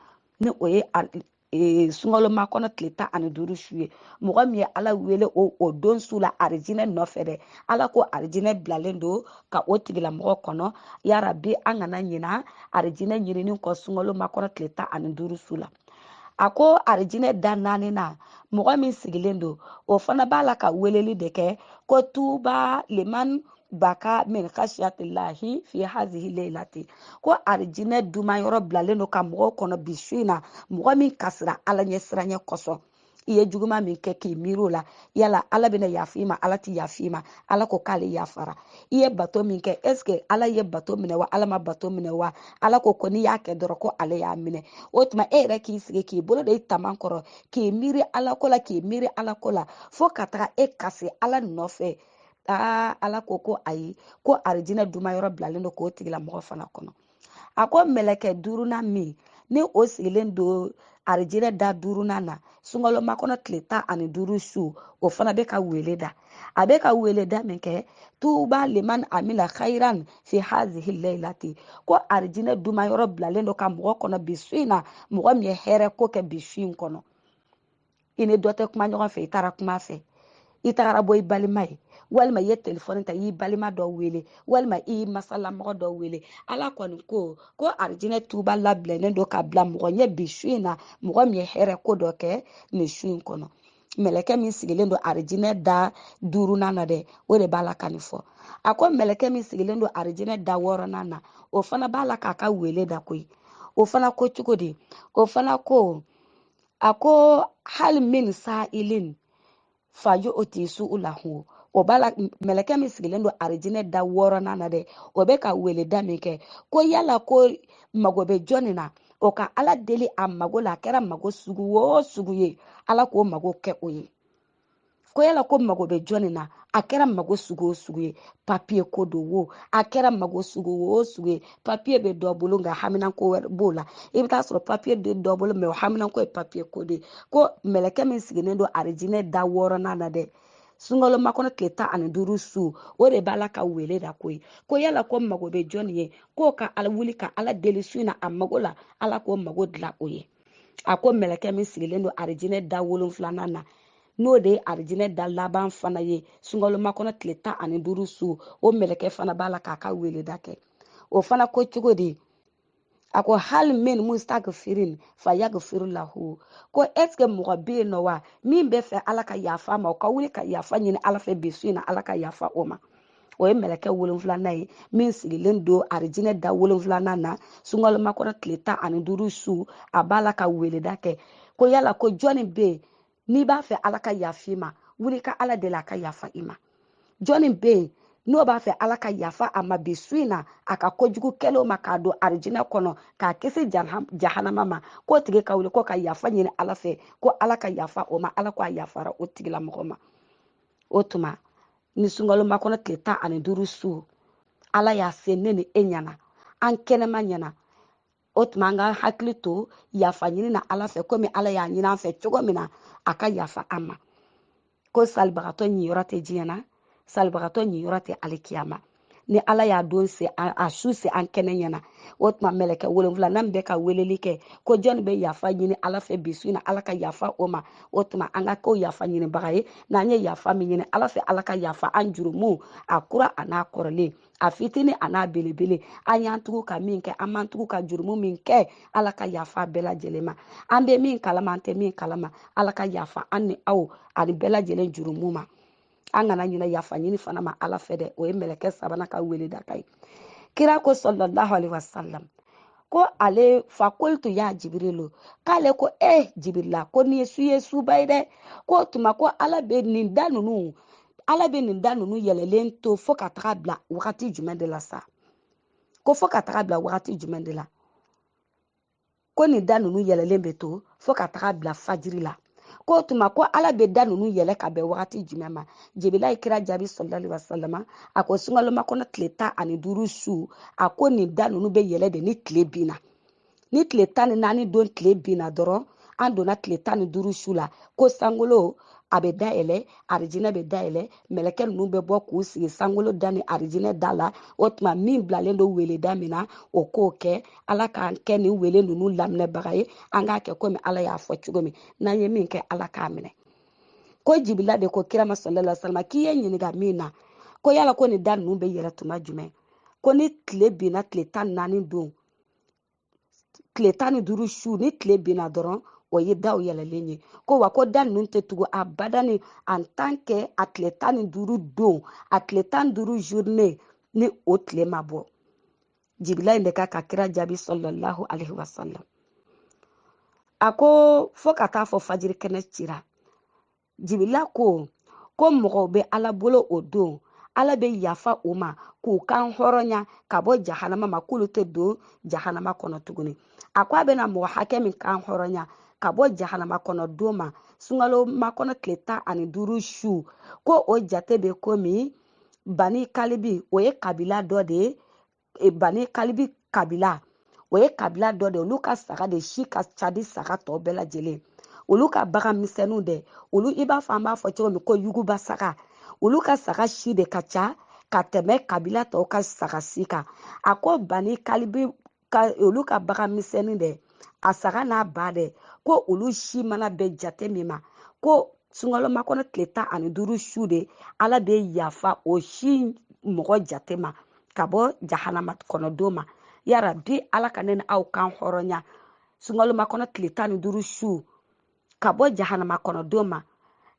Speaker 1: ni o ye ee sunkalomakɔnɔ tile tan ani duuru su ye mɔgɔ min ye ala wele o o don su la arijinɛ nɔfɛ dɛ ala ko arijinɛ bilalen don ka o tigilamɔgɔ kɔnɔ yarabi an kana ɲina arijinɛ ɲinini kɔ sunkalomakɔnɔ tile tan ani duuru su la a ko arijinɛ da naani na mɔgɔ min sigilen don o fana b'a la ka weleli de kɛ ko tuuba liman baka min khasiyatillahi fi hazihi leilati ko arijinɛ duma yɔrɔ bilalen don ka mɔgɔw kɔnɔ bi su in na mɔgɔ min kasira ala ɲɛsiranɲɛ kosɔn i ye juguma min kɛ k'i miiri o la yala ala bɛna yafa i ma ala tɛ yafa i ma ala ko k'ale yafara i ye bato min kɛ ɛsike ala ye bato minɛ wa ala ma bato minɛ wa ala ko ko n'i y'a kɛ dɔrɔn ko ale y'a minɛ o tuma e yɛrɛ k'i sigi k'i bolo da i taman kɔrɔ k'i miiri ala ko la k'i miiri ala ko la fo ka taga e kasi ala nɔfɛ aa ala ko ko ayi ko arijinɛ duma yɔrɔ bilalen don k'o tigilamɔgɔ fana kɔnɔ a ko mɛlɛkɛ duurunan min ni o sigilen don arijinɛ da duurunan na sunkalomakɔnɔ tile tan ani duuru su o fana bɛ ka wele da a bɛ ka weleda min kɛ tuuba liman amila khairan fi hazihi lailati ko arijinɛ duma yɔrɔ bilalen don ka mɔgɔ kɔnɔ bi su in na mɔgɔ min ye hɛrɛ ko kɛ bi su in kɔnɔ i ni dɔ tɛ kuma ɲɔgɔn fɛ i taara kuma fɛ i tagara bɔ i balima ye walima i ye telefɔni ta i y'i balima dɔ wele walima i y'i masalamɔgɔ dɔ wele ala kɔni ko ko arijinɛ tuba labilalen don ka bila mɔgɔ ɲɛ bi su in na mɔgɔ min ye hɛrɛ ko dɔ kɛ nin su in kɔnɔ mɛlɛkɛ min sigilen don arijinɛ da duurunan na dɛ o de b'a la ka nin fɔ a ko mɛlɛkɛ min sigilen don arijinɛ da wɔɔrɔnan na o fana b'a la k'a ka wele da koyi o fana ko cogo di o fana ko a ko hali min sa'ilin fayu'ti su'ulahu o b'a la mɛlɛkɛ min sigilen don arijinɛ da wɔɔrɔnan na dɛ o bɛ ka weleda min kɛ ko yala ko mago bɛ jɔnni na o ka ala deli a mago la a kɛra mago sugu o sugu ye ala k'o mago kɛ o ye ko yala ko mago bɛ jɔnni na a kɛra mago sugu o sugu ye papiye ko don wo a kɛra mago sugu o sugu ye papiye bɛ dɔ bolo nka haminanko wɛrɛ b'o la i bɛ taa sɔrɔ papiye tɛ dɔ bolo mɛ o haminanko ye papiye ko de ye ko mɛlɛkɛ min sigilen don arijinɛ da wɔɔrɔnan na dɛ sunkalomakɔnɔ tile tan ani duuru su o de b'a la ka wele da koyi ko yala ko mago bɛ jɔn ye k'o ka ala wuli ka ala deli su in na a mago la ala k'o mago dilan o ye a ko mɛlɛkɛ min sigilen don arijinɛ da wolonfilanan na n'o de ye arijinɛ da laban fana ye sunkalomakɔnɔ tile tan ani duuru su o mɛlɛkɛ fana b'a la k'a ka weleda kɛ o fana ko cogo di a ko hali min mustagifirin fa yagifiru lahu ko ɛsike mɔgɔ bɛ yen nɔ wa min b'a fɛ ala ka yafa a ma o ka wuli ka yafa ɲini ala fɛ bi su in na ala ka yafa o ma o ye mɛlɛkɛ wolonfilanan ye min sigilen don arijinɛ da wolonfilanan na sunkalomakɔnɔ tile tan ani duuru su a b'a la ka weleda kɛ ko yala ko jɔni bɛ yen n'i b'a fɛ ala ka yafa i ma wuli ka ala deli a ka yafa i ma jɔni bɛ yen n'o b'a fɛ ala ka yafa a ma bi su in na a ka kojugu kɛlenw ma k'a don arijinɛ kɔnɔ k'a kisi jahanama ma k'o tigi ka wuli ko ka yafa ɲini ala fɛ ko ala ka yafa o ma ala ko a yafara o tigilamɔgɔ ma o tuma ni sunkalo makɔnɔ tile tan ani duuru su ala y'a se ne ni e ɲɛna an kɛnɛman ɲɛna o tuma an ka hakili to yafa ɲini na ala fɛ komi ala y'a ɲini an fɛ cogo min na a ka yafa an ma ko salibagatɔ ɲiyɔrɔ tɛ diɲɛ na salibagatɔ ɲiyɔrɔ tɛ alikiyama ni ala y'a don se a su se an kɛnɛ ɲɛna o tuma mɛlɛkɛ wolonfilanan bɛ ka weleli kɛ ko jɔni bɛ yafa ɲini ala fɛ bi su in na ala ka yafa o ma o tuma an ka kɛ o yafa ɲinibaga ye n'an ye yafa min ɲini ala fɛ ala ka yafa an jurumuw a kura a n'a kɔrɔlen a fitini a n'a belebele an y'an tugu ka min kɛ an m'an tugu ka jurumu min kɛ ala ka yafa bɛɛ lajɛlen ma an bɛ min kalama an tɛ min kalama ala ka yafa an ni aw ani bɛɛ lajɛlen jurumu ma an kana ɲinɛ yafa ɲini fana ma ala fɛ dɛ o ye mɛlɛkɛ sabanan ka weleda kan ye kira ko salalahu alaihi wasalam ko ale fakultu ya jibirilu k'ale ko eh, jibirila ko nin su ye suba ye dɛ k'o tuma ko ala bɛ nin da ninnu yɛlɛlen to fo ka taga bila wagati jumɛn de la sa ko fo ka taga bila wagati jumɛn de la ko nin da ninnu yɛlɛlen bɛ to fo ka taga bila fajiri la k'o tuma ko ala bɛ da ninnu yɛlɛ ka bɛn wagati jumɛn ma jibila ye kira jaabi salalahu alaihi wasalam a ko sunkalomakɔnɔ tile tan ani duuru su a ko nin da ninnu bɛ yɛlɛ de ni tile binna ni tile tan ni naani don tile binna dɔrɔn an donna tile tan ni duuru su la ko sankolo a bɛ dayɛlɛ arijinɛ bɛ dayɛlɛ mɛlɛkɛ ninnu bɛ bɔ k'u sigi sankolo da ni arijinɛ da la o tuma min bilalen don weleda min na o k'o kɛ ala k'an kɛ nin wele ninnu laminɛbaga ye an k'a kɛ komi ala y'a fɔ cogo min n'an ye min kɛ ala k'a minɛ ko jibila de ko kira ma salalahu alaihi wasalam k'i ye n ɲininka min na ko yala ko nin da ninnu bɛ yɛlɛ tuma jumɛn ko ni tile binna tile tan ni naani don tile tan ni duuru su ni tile binna dɔrɔn o ye daw yɛlɛlen ye ko wa ko da ninnu tɛ tugu abada ni en tant que a tile tan ni duuru don a tile tan ni duuru journée ni o tile ma bɔ jibila in de ka ka kira jaabi salalahu alaihi wasalam a ko fo ka taa fo fajiri kɛnɛ cira jibila ko ko mɔgɔw bɛ ala bolo o don ala bɛ yafa u ma k'u kan hɔrɔnya ka bɔ jahanama ma k'olu tɛ don jahanama kɔnɔ tuguni a ko a bɛna mɔgɔ hakɛ min kan hɔrɔnya ka bɔ jahanama kɔnɔ don ma sunkalo makɔnɔ tile tan ani duuru su ko o jate bɛ komi bani kalibi o ye kabila dɔ de ye e, bani kalibi kabila o ye kabila dɔ de olu ka saga de si ka ca ni saga tɔ bɛɛ lajɛlen olu ka bagan misɛnninw dɛ olu i b'a fɔ an b'a fɔ cogo min ko yuguba saga olu ka saga si de ka ca ka tɛmɛ kabila tɔw ka saga si kan a ko bani kalibi ka olu ka bagan misɛnnin dɛ a saga n'a ba dɛ ko olu si mana bɛn jate min ma ko sunkalo makɔnɔ tile tan ani duuru su de ala bɛ yafa o si mɔgɔ jate ma ka bɔ jahanama kɔnɔ don ma yarabi ala ka ne ni aw kan hɔrɔnya sunkalo makɔnɔ tile tan ni duuru su ka bɔ jahanama kɔnɔ don ma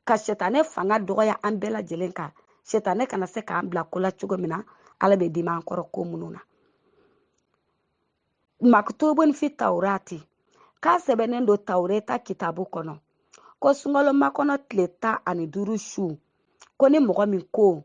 Speaker 1: ka sɛtanɛ fanga dɔgɔya an bɛɛ lajɛlen kan sɛtanɛ kana se k'an bila ko la cogo min na ala bɛ dimi an kɔrɔ ko minnu na maktubun fi taurati k'a sɛbɛnnen don taureta kitabu kɔnɔ ko sunkalo makɔnɔ tile tan ani duuru su ko ni mɔgɔ min ko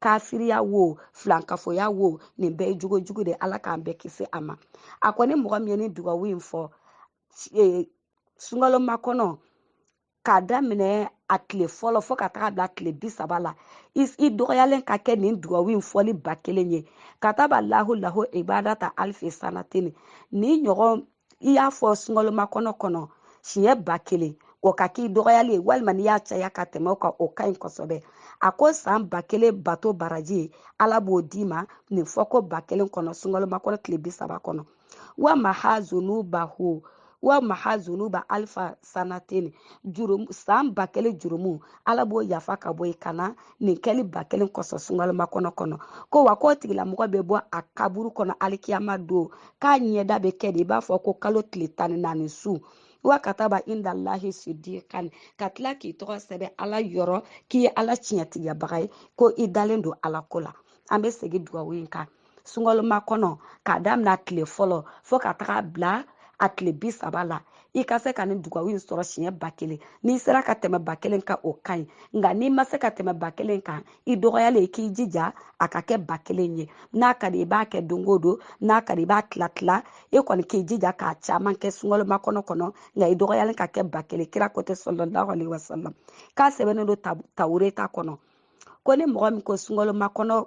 Speaker 1: kafiriya wo filankafoya wo nin bɛɛ ye jogo jugu de ala k'an bɛɛ kisi a ma a kɔni mɔgɔ min ye nin dugawu in fɔ e, sunkalo makɔnɔ k'a daminɛ a tile fɔlɔ fɔɔ ka taga bila tile bi saba la i dɔgɔyalen ka kɛ nin dugawu in fɔli ba kelen ye kataba lahu lahu ibadata alifi sanatini nin ɲɔgɔn i y'a fɔ sunkalomakɔnɔ kɔnɔ siɲɛ ba kelen o ka k'i dɔgɔyali ye walima n'i y'a caya ka tɛmɛ o kan o ka ɲi kosɛbɛ a ko san ba kelen bato baraji ala b'o d'i ma nin fɔ ko ba kelen kɔnɔ sunkalomakɔnɔ tile bi saba kɔnɔ wa maha zunubahu wa maha zunuba alifa sanatini jurum san ba kelen jurumu ala b'o yafa ka bɔ i kan na nin kɛli ba kelen kɔsɔn sunkalomakɔnɔ kɔnɔ ko wa k'o tigilamɔgɔ bɛ bɔ a kaburu kɔnɔ alikiyama don k'a ɲɛda bɛ kɛ de i b'a fɔ ko kalo tile tan ni naani su wa kataba indalahi sidikan ka tila k'i tɔgɔ sɛbɛn ala yɔrɔ k'i ye ala tiɲɛtigiyabaga ye ko i dalen don ala ko la an bɛ segin dugawu in kan sunkalo makɔnɔ k'a daminɛ a tile fɔlɔ fɔɔ ka taga bila a tile bi saba la i ka se ka nin dugawu in sɔrɔ siɲɛ ba kelen n'i sera ka tɛmɛ ba kelen kan o ka ɲi nka n'i ma se ka tɛmɛ ba kelen kan i dɔgɔyalen i k'i jija a ka kɛ ba kelen ye n'a ka di i b'a kɛ don o don n'a ka di i b'a tila tila e kɔni k'i jija k'a caman kɛ sunkalo makɔnɔ kɔnɔ nka i dɔgɔyalen ka kɛ ba kelen kira ko ten salalahu alaihi wasalam k'a sɛbɛnnen don tawureta kɔnɔ ko ni mɔgɔ min ko sunkalo makɔnɔ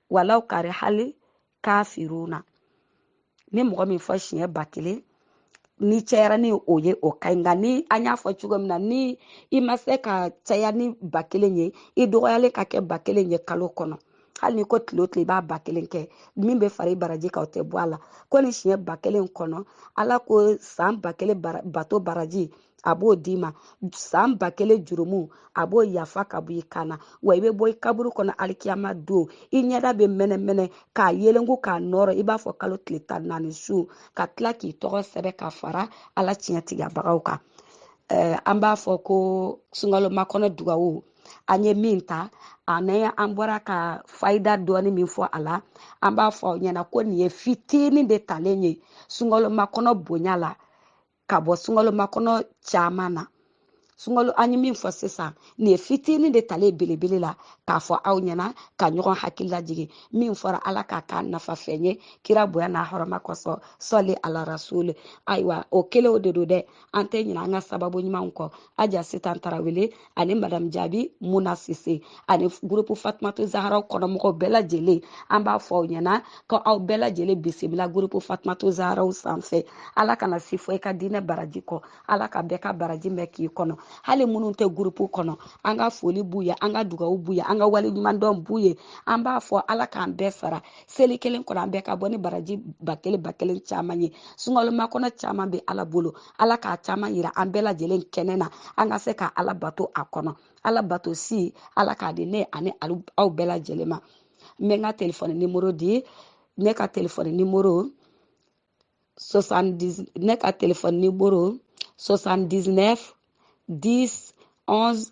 Speaker 1: walaw karihali kafiruna ni mɔgɔ min fɔ siɲɛ ba kelen ni cayara ni o ye o ka ɲi nka ni an y'a fɔ cogo min na ni i ma se k'a caya ni ba kelen ye i dɔgɔyalen ka kɛ ba kelen ye kalo kɔnɔ hali n'i ko tile o tile i b'a ba kelen kɛ min bɛ fara i baraji kan o tɛ bɔ a la ko nin siɲɛ ba kelen kɔnɔ ala ko san ba kelen bato baraji a b'o d'i ma san ba kelen jurumu a b'o yafa ka bɔ i kan na wa i bɛ bɔ i kaburu kɔnɔ alikiyama don i ɲɛda bɛ mɛnɛmɛnɛ ka yelenku ka nɔɔrɔ i b'a fɔ kalo tile tan naani su ka tila k'i tɔgɔ sɛbɛn ka fara ala tiɲɛtigiyabagaw kan eh, an b'a fɔ ko sunkalo makɔnɔ dugawu an ye min ta ani an bɔra ka fayida dɔɔni min fɔ a la an b'a fɔ aw ɲɛna ko nin ye fitinin de talen ye sunkalo makɔnɔ bonya la ka bɔ sunkalo makɔnɔ caman na sunkalo an ye min fɔ sisan nin ye fitinin de talen ye belebele la k'a fɔ aw ɲɛna ka ɲɔgɔn hakili lajigin min fɔra ala k'a k'a nafa fɛn ye kira bonya n'a hɔrɔma kosɔn sɔli ala rasuli ayiwa o kelenw de don dɛ an tɛ ɲina an ka sababu ɲumanw kɔ aja sitan tarawele ani madamu jaabi muna sise ani gurupu fatumatu zaharaw kɔnɔmɔgɔw bɛɛ lajɛlen an b'a fɔ aw ɲɛna ko aw bɛɛ lajɛlen bisimila gurupu fatumatu zaharaw sanfɛ ala kana si fɔ i ka diinɛ baraji kɔ ala ka bɛɛ ka baraji mɛn k'i kɔnɔ hali minnu tɛ gurupu kɔnɔ an ka foli b'u ye an ka dugawu b'u ye an ka waleɲumandɔn b'u ye an b'a fɔ ala k'an bɛɛ sara seli kelen kɔnɔ an bɛɛ ka bɔ ni baraji ba kelen ba kelen caman ye sunkalomakɔnɔ caman bɛ ala bolo ala k'a caman yira an bɛɛ lajɛlen kɛnɛ na an ka se ka ala bato a kɔnɔ ala bato si ala k'a di ne ani aw bɛɛ lajɛlen ma n bɛ n ka telefɔni nimoro di ne ka telefɔni nimoro ne ka telefɔni nimoro 79 10 11